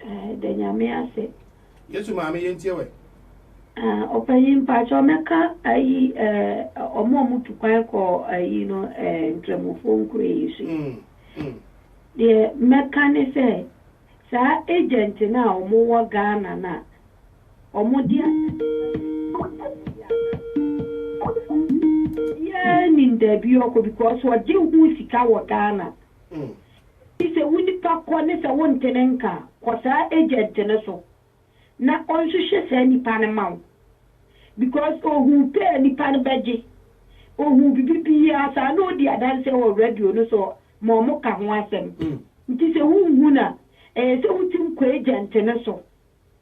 Eh da nyame ase. Yesu maame yɛntie wɛ. Ah ɔpanyin mpakyɛw mɛka ayi eh ɔmo ɔmo tu kwan kɔ ayi no eh nkramofoɔ nkuro yi so yi. Mm, mm. Deɛ mɛka ne sɛ saa agent no a ɔmo wɔ Ghana no a ɔmo de yɛ nim dabi ɔkɔ because ɔgye ho sika wɔ Ghana. Enti sɛ wo nipa kɔ ne sɛ wonte ne nka a, kɔ saa agent no so na ɔnhwehwɛ saa nipa no ma wo because ohuu pɛ a nipa no bɛgye, ohuu biribi biara saa na odi adanseɛ wɔ radio no so ma wɔka ho asɛm. Enti sɛ wonhu no a, ɛyɛ sɛ wotim kɔ agent no so.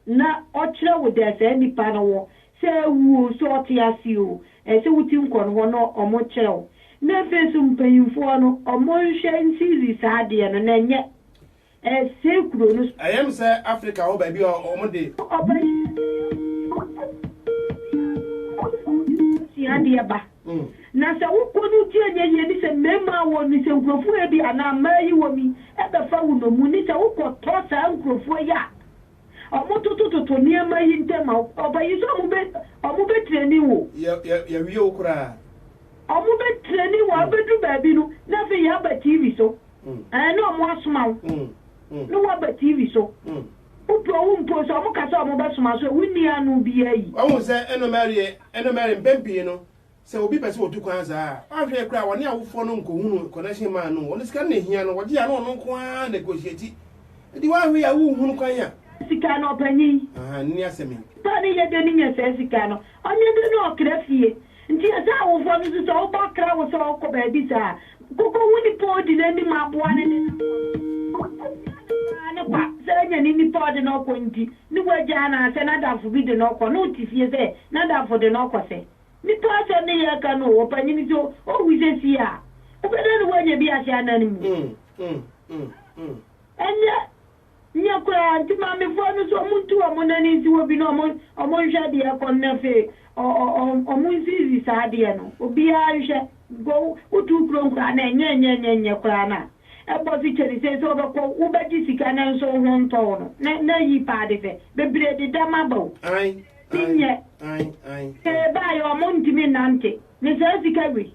na ɔkyerɛ wo dɛ saa nyimpa no wɔ, sɛ oewu o, sɛ ɔtse ase o, ɛsɛ wo tsim kɔ no hɔ na wɔkyerɛ wo. Na afei so mpanyimfo hɔ no, wɔnnhwɛ nsiidzi saa adeɛ no na nnyɛ ɛsɛɛ kuro no. Ɛyɛ me sɛ Africa hɔ baabi a wɔde. Ɔpanyin bi ne ne nua bi kɔ fie sua adeɛ ba. Na sɛ wo kɔ no gye nyɛ yie ne sɛ mmarima a wɔn nsɛnkurofoɔ yɛ bi anaa mmaa yi wɔ mi bɛfa wo nnommum ne sɛ wo kɔ tɔ saa nkurofoɔ yi a wɔn toto toto nneɛma yi ntɛm a ɔba yi so wɔn bɛ wɔn bɛ trɛni wo. Yɛ yɛ yɛ wie wo koraa. Wɔn bɛ trɛni wo a bɛ duru baabi no na afei yɛ aba TV so ɛɛ na wɔn asoma wo na wa ba TV so. Wopɛ owu mpo sɛ ɔmo ka sɛ wɔbɛsoma so a, wonni ano biara yi. Wahu sɛ ɛno mmɛreɛ, ɛno mmɛre mpɛn pii no sɛ obi pɛ sɛ ɔtu kwan saa a, wanhwɛ koraa wɔne awofoɔ no nkɔhunu connection man no, wɔn sika no na ɛhia no, wɔgye a na ɔno nko ara negotiate, enti wanhwɛ yi a wonhunu kwan a. Sika no, ɔpanyin. Ahaa, nni asɛm yi. Nipa a ne yɛdɛ no nya saa sika no, Ɔnye do na ɔkra fie. Ntsi ɔsɛ awofo no so sɛ wo ba kra wo sɛ ɔkɔ beebi saa a, kokohu nyimpa a odzi n'enyim aboa no ne n'awofo no. Obia ne paa no kwa sɛ ɔnya ne nyimpa a ɔdze no kɔ ntsi, no w'egya anaasɛ n'adamfo bi de no kɔ na ɔtse fie sɛ n'adamfo de no kɔ. Sɛ nyimpa asɔr ne yɛ kan o, ɔpanyin so o, owu sɛ sie a, wobɛda no w'anya bi ase anan mu. Ndɛ, Nyɛ koraa, nti maamefoɔ no so ɔmo ntu ɔmo nane nsi hɔ bi na ɔmo ɔmo nhwɛ deɛ ɛkɔ no na afei ɔ ɔ ɔ ɔmo nsiisi saa adeɛ no obiara nhwɛ go wotuu kuro no koraa na ɛnyɛ ɛnyɛ ɛnyɛ ɛnyɛ koraa na ɛbɔ so kyɛne sei sɛ wobɛkɔ wobɛgye sika nanso wo ho ntɔ wo no na na ayi paa de sɛ bebree deda ma ba o Ae, ae, nyɛ ae, ae, ae. Ee baayɛ ɔmo ntumi nnante ne saa sika wei.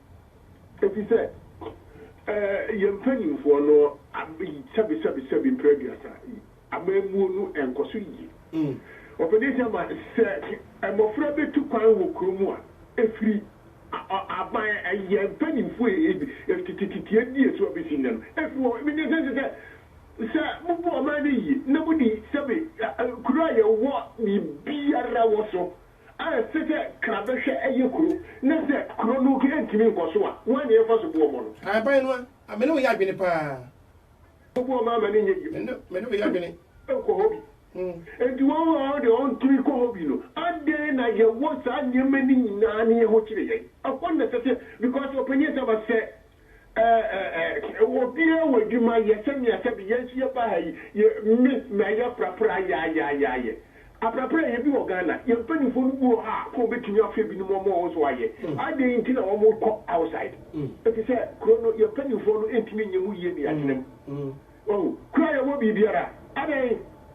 Efisɛ yɛn mpanimfoɔ no sɛbesɛbesɛbe mprɛ aduasa yi amammuo no nkɔ so yie. Ɔpanin Sama, Sɛ mmɔfra bɛtu kwan wɔ kuro mu a, ɛfiri aban yɛn mpanimfoɔ teteteteɛ di so abɛsi nnɛ no, ɛfiri hɔ. Menim sɛ ɛsɛ sɛ sɛ mobu ɔman no yie na modi sɛbe kuro a yɛwɔ biribiara wɔ so a ɛte sɛ kra bɛhwɛ yɛ kuro na sɛ kuro no ntumi nkɔ so a, wan ne yɛmfa so boɔ mɔ no? Aban no a, me ne wo yɛ adwene paa. Wobu wɔn ama no nyɛ yie mpo. Me ne wo yɛ adwene. Nkɔ hɔ bi. Enti wɔn a wɔn deɛ wɔntumi nkɔ hɔ bi no, adɛn na yɛwɔ saa nneɛma no nyinaa ne yɛn ho kyere yɛn? Ɛhɔ na ɛsɛ sɛ, because ɔpanin asɛm asɛ, Ɛɛɛɛɛ obiara wɔ adwuma yɛ sɛnea sɛbi yɛn nso yɛba ha yi yɛ me na yɛ prapra yaayaayɛ aprapra yɛ bi wɔ Ghana yɛn mpanyinfoɔ no bi wɔ hɔ a kɔ wɔbɛtumi afrɛ bi nom wɔn nso ayɛ adɛn nti na wɔn kɔ outside ɛfiri sɛ kuro no yɛn mpanyinfoɔ no ntumi nyɛ mu yie ne yɛatena mu wahu kuro a yɛwɔ biribiara adɛn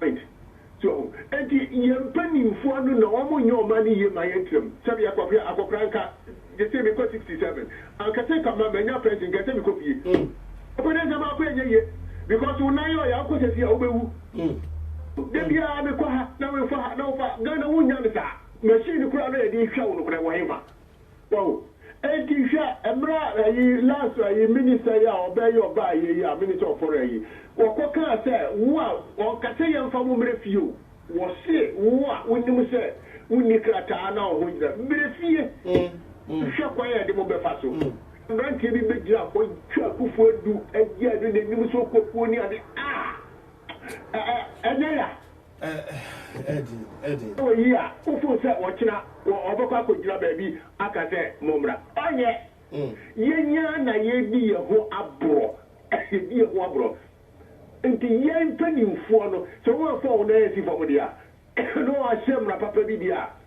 point so ho enti yɛn mpaninfoɔ ano na wɔn nyɛ wɔn ano yie ma yɛn tram sɛ bia kɔhwɛ akɔkora nka gyesɛ mekɔ 67 anka sɛ kama manya pension nka sɛ mekɔ fie ɔpɛ dɛ sɛ maakɔ ɛnyɛ yie because wo nan yɛ ɔyɛ akɔ sɛ fie a wobɛwu da biara mekɔ ha na mefa ha na wofa Ghana wonnya no saa machine koraa na yɛde hwɛ wo no koraa wɔ henfa Wow enti hwɛ ɛmerɛ a ayi last ayi minister yi a ɔbɛɛ yi ɔbaa yɛ yi a minister of foreign yi wɔkɔ kaa sɛ wo a ɔnkasɛ yɛnfa mo mrɛ fie o wɔse wo a wonim sɛ wonni krataa na woho nyina mrɛ fie hwɛ kwan a yɛde mo bɛfa so abranteɛ bi bɛgyina hɔ twa akufo adu agya adu nanim so kɔkuo ne ade ah ɛnyɛ ya. Ɛɛden. Wɔ eyi a, wo foo sɛ ɔkyena wɔ ɔbɛkɔ akɔgyina baabi aka sɛ mommra? Ɔnyɛ. Yɛn ara na yɛredi yɛn ho aborɔ. Yɛdi yɛn ho aborɔ. Nti yɛn mpanimfoɔ no, sɛ wɔn amfa wɔn nan ansi fam deɛ a, na wɔahyɛ mmara papa bi deɛ a,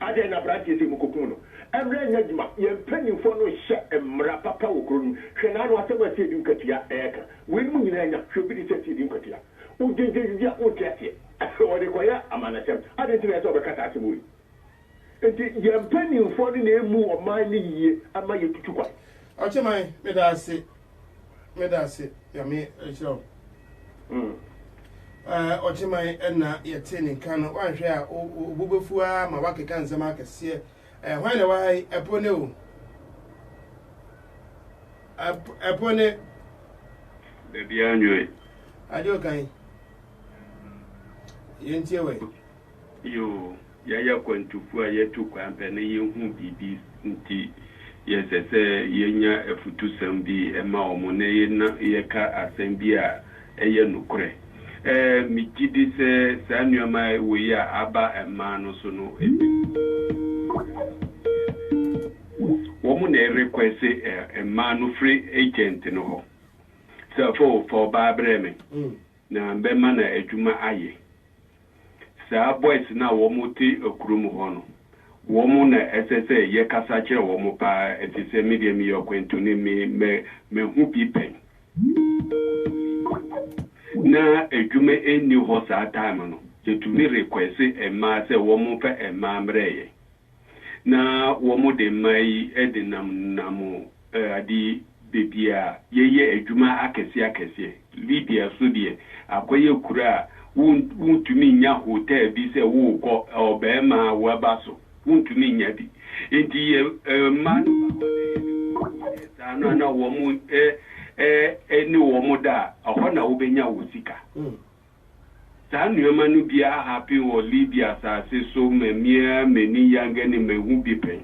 Adɛn na abranteɛ sei mokokum no? Mmra nyɛ adwuma, yɛn mpaninfoɔ no nhyɛ mmra papa wɔ kuro no mu, hwɛ n'ano asɛm a asiedi nkwatia ɛɛka, weinom nyinaa nya hwɛ bi tesɛ asiedi nkwatia, wogyegyeegyegye a wonte aseɛ, wɔde kɔyɛ amannɔsɛm, adɛn nti na ɛsɛ sɛ wɔbɛka saa asɛm wei? Nti yɛn mpaninfoɔ no na ɛmmu ɔman no yie mma yɛtutu kwan. Ɔkyeman, meda ase Meda ase Nyame nhyira wo. Ɛɛ ɔkyeman ɛna yɛte ne nka no wanhwɛ a obu bɛfu ara ma wakeka nsɛm akɛseɛ. Ɛɛ hwan na ɛwɔ ha yi ɛpo ne o. Ɛpo ne. Dabi anwɛn. Adeɛ ɔkan. Yɛntie wɔ yi. Yoo, yɛayɛ akwantufo a yɛatu kwan pɛ na yɛahu biribi nti, yɛsɛ sɛ yɛnya afutusɛm bi ma wɔn na yɛka asɛm bi a ɛyɛ nokorɛ. Megye di sɛ saa nneɛma wei a aba mmaa no so no, ebi nso wɔ hɔ a wɔreyɛ a ɛyɛ dɛ sɛ wɔn na ɛrekwɛse mmaa no firi agent no hɔ sɛ, Fa ɔbaa brɛ me. Na bɛma no adwuma ayɛ. Saa boys no a wɔmo te kurom hɔ no, wɔmo na ɛsɛ sɛ yɛ kasa kyerɛ wɔmo paa efisɛ me deɛ meyɛ ɔkwantuni, me mɛ mahu bi pɛn. Na adwuma nni hɔ saa time no, yɛtumi request mmaa sɛ wɔmo nfa mmaa mmrɛ yɛn. na wɔde mmaa yi de namnam ade baabi a yɛyɛ adwuma akɛseɛ akɛseɛ. Libya nso deɛ, akɔyɛ kuro a wontumi nnya hotel bi sɛ worekɔ, ɔbarima a woaba so, wontumi nnya bi. Enti yɛ mmaa no ba hɔ na yɛde wɔn kɔyɛ saa no a, na wɔn ne wɔn da a, ɛhɔ na wobɛnya wo sika. Saa nnoɔma no bi ahapen wɔ Libya asase so ma me ara m'ani yangɛ ne mahu bi pɛn.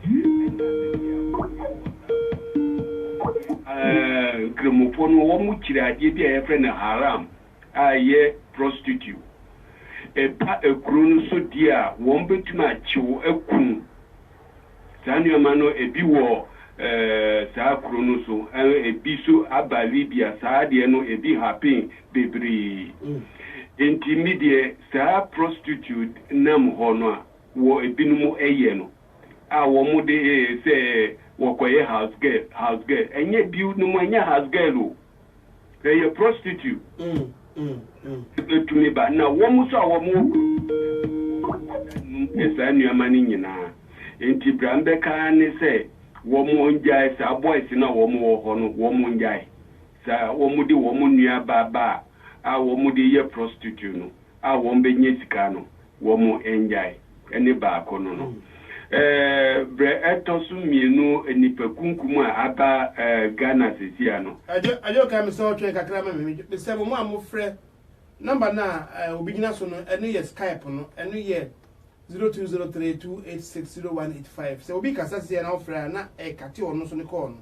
Ɛnna sɛdeɛ a wɔyɛ wɔ saa asase no so no, wɔyɛ ara Nkramofoɔ no wɔkyiri adeɛ bi a yɛfrɛ no haram a ɛyɛ prostitute. Ɛba akuro no so deɛ a, wɔbɛtumi akye wo, aku wo. Saa nneɛma no, ebi wɔ saa kuro no so, ebi nso aba Libya. Saa deɛ no, ebi happen bebree. Enti me deɛ, saa prostitute nam hɔ no a wɔ ebinom yɛ no, a wɔde sɛ wɔkɔyɛ house girl, house girl, ɛnyɛ binom, ɛnyɛ house girl o, Hwɛ yɛ prostitute. Ɛbɛtu ne ba. Na wɔn nso a wɔn wɔ kuro mu no, wɔn nso da num yɛ saa nnuama no nyinaa. Nti bra me bɛka ara ne sɛ wɔn ngyae saa boys no a wɔn wɔ hɔ no, wɔn ngyae saa wɔn de wɔn nua baa baa a wɔn de yɛ prostitute no. a wɔn bɛnya sika no wɔn ngyae ɛne baako no no ɛɛ brɛ ɛtɔ so mmienu nnipa kunkum a aba ɛɛ Ghana sesia no. Adwo adwo kae me sɛ ɔtwɛn kakra ma me me sɛ mo mo a mo frɛ number no a ɛɛ obi gyina so no ɛno yɛ skype no ɛno yɛ zero two zero three two eight six zero one eight five sɛ obi kasa sesia na wo frɛ a na ɛkate ɔno nso ne call no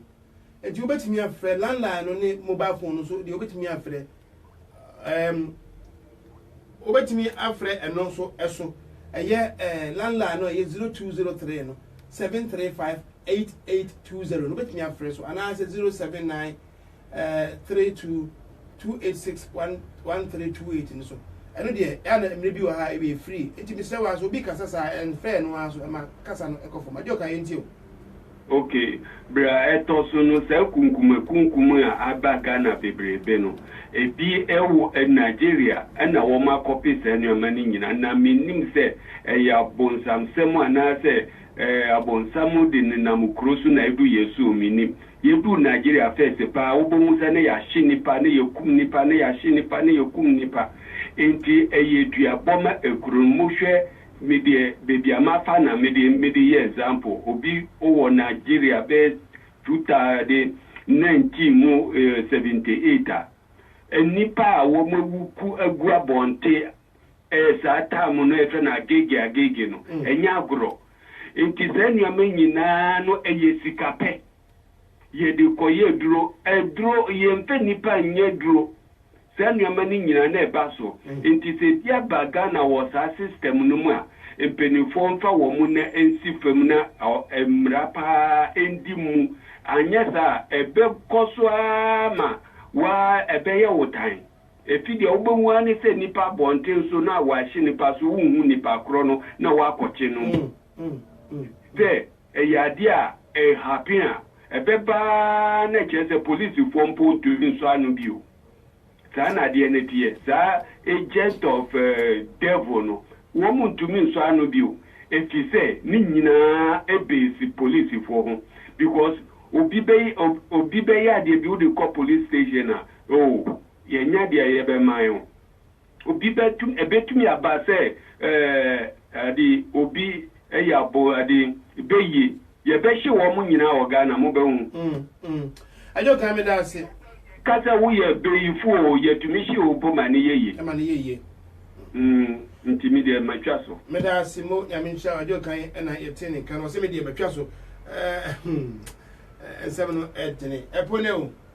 eti wo bɛtumi afrɛ landline no ne mobile phone no nso deɛ wo bɛtumi afrɛ Ɛɛm, wobɛtumi afrɛ ɛno nso ɛso. Ɛyɛ ɛɛ landline no a ɛyɛ 0203 no 7358820 no wobɛtumi afrɛ so anaasɛ 079 ɛɛ 32 286 1328 no so. Ɛno deɛ ɛa na mmerɛ bi wɔ ha ɛyɛ free. Nti mesrɛ wo a sɛ obi kasa saa ɛnfrɛ ɛno ara so ɛma kasa no ɛkɔ fam. Agye ɔkaeɛ nti o. Ok, berɛ a ɛtɔ so no saa kunkumakunkum a aba Ghana bebrebe no, ɛbi wɔ Nigeria na wɔn akɔpe saa nneɛma no nyinaa, na mennim sɛ ɛyɛ abonsamsɛm anaa sɛ abonsam de nenam kuro so na ɛdu yɛn so o, mennim. Yɛduu Nigeria first paa wobɛhu sɛ na yɛahye nnipa, na yɛkum nnipa, na yɛahye nnipa, na yɛkum nnipa. Enti ɛyɛ duabɔ ma kuro no. Mohwɛ Me deɛ baabi a mafa na mede mede yɛ example obi wɔ Nigeria bɛyɛ two thousand de nineteen mu eh seventy eight a nnipa a wɔn awu ku agu abɔnte eh saa time no yɛfrɛ no agege agege no ɛnyɛ agorɔ nti saa nneɛma nyinaa no ɛyɛ sika pɛ yɛde kɔyɛ aduro aduro yɛnfɛ nnipa nyɛ aduro Saa nnoɔma no nyinaa na ɛba so. Nti sɛ bi aba Ghana wɔ saa system no mu a, mpaninfoɔ mfa wɔn nna nsi fam na mmara paa ɛndi mmu. Anyɛ saa a, ɛbɛkɔ so ara ma woaa ɛbɛyɛ wo tan. Ɛfiri deɛ wobɛhu ara ne sɛ nnipa abɔnten so na wɔahye nnipa so, wonhu nnipa korɔ no na wɔakɔkye no mpo. Sɛ Ɛyɛ adeɛ a ɛɛ happen a ɛbɛba ara na kyerɛ sɛ policefoɔ mpo ntumi nsɔ ano bio. Saa na adeɛ no teɛ. Saa agent of devil no, wɔn ntumi nsɔ ano bio ɛfiri sɛ ne nyinaa base policefoɔ ho because obi bɛ obi bɛyɛ adeɛ bi wode kɔ police station a oh yɛnya deɛ yɛbɛma wo. Obi bɛtum, ɛbɛtumi aba sɛ ɛɛde obi ɛyɛ abo ɛde bɛyie. Yɛbɛhye wɔn nyinaa wɔ Ghana, mobɛhu. Ɛnyɛ ɔtan me daase. Ka sɛ woyɛ bɛyifo oo, yɛtumi hye wo mpo ma no yɛ yie. Ɛma no yɛ yie. Mm, nti me deɛ matwa so. Me daase mo, Nyame nhyira wo. Ɛnyɛ ɔtan na yɛte ne nka no, ɔse me deɛ matwa so. Ɛɛh, hmm, nsɛm no ɛdene. Ɛpo ne o.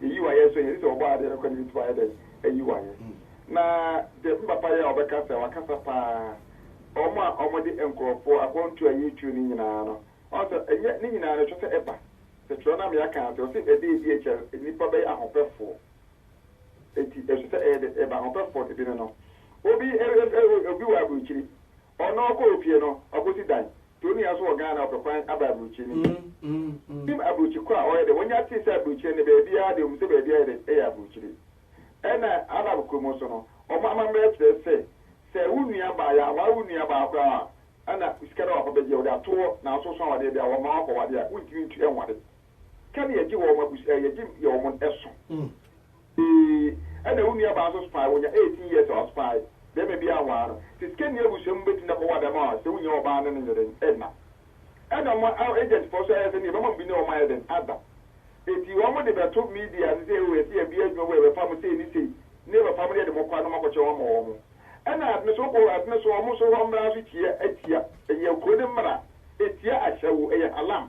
Yeyi wo ayɛ so hɛn sɛ wɔbɔ adze no kɔ no yetum ayɛ dɛn eyi wo ayɛ na dɛ me papa yi a ɔbɛkasa ɔakasa paa wɔn a wɔde nkorɔfoɔ akwantuo a yɛretuo no nyinaa no ɔn sɛ ɛnyɛ ne nyinaa no kyerɛ sɛ ɛba sɛ twerɛ no a mea kaa sɛ ɔse ɛda ɛdi akyi a nnipa bɛyɛ ahopɛfoɔ eti ɛsɛ sɛ ɛyɛ dɛ ɛba ahopɛfoɔ no bi no no obi obi wɔ aburokyiri Ɔno ɔkɔ ofie no ɔkɔsi dan. Tonia nso wɔ Ghana ɔpɛ kwan aba aburokyi no bi. Ɔnim aburokyi ko a ɔyɛ dɛ. Wɔnya tee sɛ aburokyire no baabiara deɛ wɔnim sɛ baabi ayɛ dɛ yɛ aburokyire. Ɛna Arab kuro mu nso no, wɔn amammerɛ kyerɛ sɛ, sɛ wo nua baa, yɛanware wo nua baa koraa a, na sika no a wɔfa bɛgye, wɔde ato hɔ, nanso wosua awadeɛ deɛ a, wɔmma wo akɔware a, wontumi ntu nware. Ka ne yɛgye wɔn abusua, yɛgye yɛ wɔn ɛso. Ee, ɛna wo nuabaa nso spy, onya eighteen years a ɔspy bɛrima bi a waa no. Te sikani abusua mu betumi akɔwɔ adam a sɛ wonnya ɔbaa ne no nyɛ dɛn ɛna. Ɛna mo agent foɔ nso ayɛ sɛ nea ɛbɛma mo bi ne wɔn ayɛ dɛn ada. Eti wɔn de bɛto media so sɛ oo yɛse yɛbea adwuma bi a yɛbɛfa mo sei ne sei ne yɛbɛfa mo yɛde mo kɔ a na ɔmo akɔkyɛ wɔn ama wɔn. Ɛna ade no so wokɔ ade no so ɔmo so hɔ mmra nso kyia ɛtia ɛyɛ kuro no mmra ɛtia ahyɛwo ɛyɛ halam.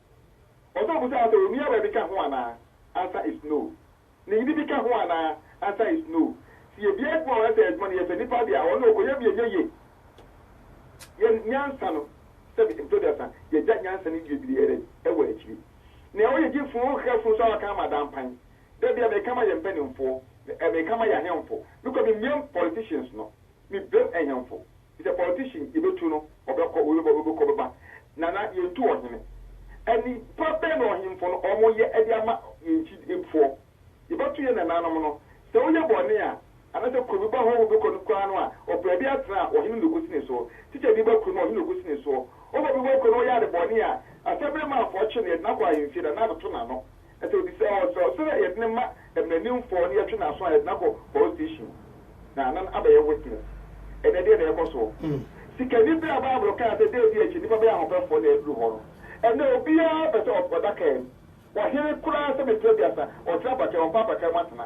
Ɔsan bisaa sɛ, Onuaba bi ka ho anaa? Answer is no. Ne yere bi ka ho anaa? Answer is no. Sɛ yebue adwuma wɔ ha sɛ adwuma no yɛ fɛ nipa de a, ɔno na ɔkɔyɛ mu yɛ nyɛ ye. Yɛn nyansa no, sɛbe mpe aduasa, yɛagya nyansa no wie biriara yi, ɛwɔ akyiri. Nea ɔyɛ gyefunu no hwɛ funu so a waka ama ada mpan. Da bi a meka ma yɛn mpaninfoɔ, meka ma yɛn ahemfo, mekɔ memiam politicians no. Me bem ɛhemfo is a politician yɛbɛtu no ɔbɛkɔ wei bɛba wei bɛkɔ bɛba Nana yɛntu ɔhene Ani pa bɛn na ɔhemfo no ɔmo yɛ de ama yɛn nkyi foɔ Yɛbɛtu yɛn nananom no sɛ woyɛ bɔne a Anasɛ kuro bɛba hɔ wobɛkɔ no koraa no a Ɔpɛ bi atena a ɔhene na ɔkɔsi ne soɔ Teacher bi ba kuro no a ɔhene na ɔkɔsi ne soɔ Ɔba bi ba kuro no a ɔyɛ ade bɔne a Asɛmmerɛ ma afɔɔkye no yɛde no akɔ ahemfie Nana abɛto n'ano Afei obisaa wɔn sɛ, Ɔsɛ dɛ yɛdze no ma mmaranimfo na yɛtwe n'aso a yɛdze no akɔ police station na anan abɛyɛ witness? Ndɛ deɛn na ɛrekɔ so? Sikanyi bi a Bible kaa sɛ da bi akyi nnipa bɛyɛ ahopɛfo na aduru hɔ no, ndɛ obiara pɛ sɛ ɔda kar mu. Ɔhen koraa sɛ mfe aduasa, ɔtra apakaa, ɔmpɛ apakaa mu atsena.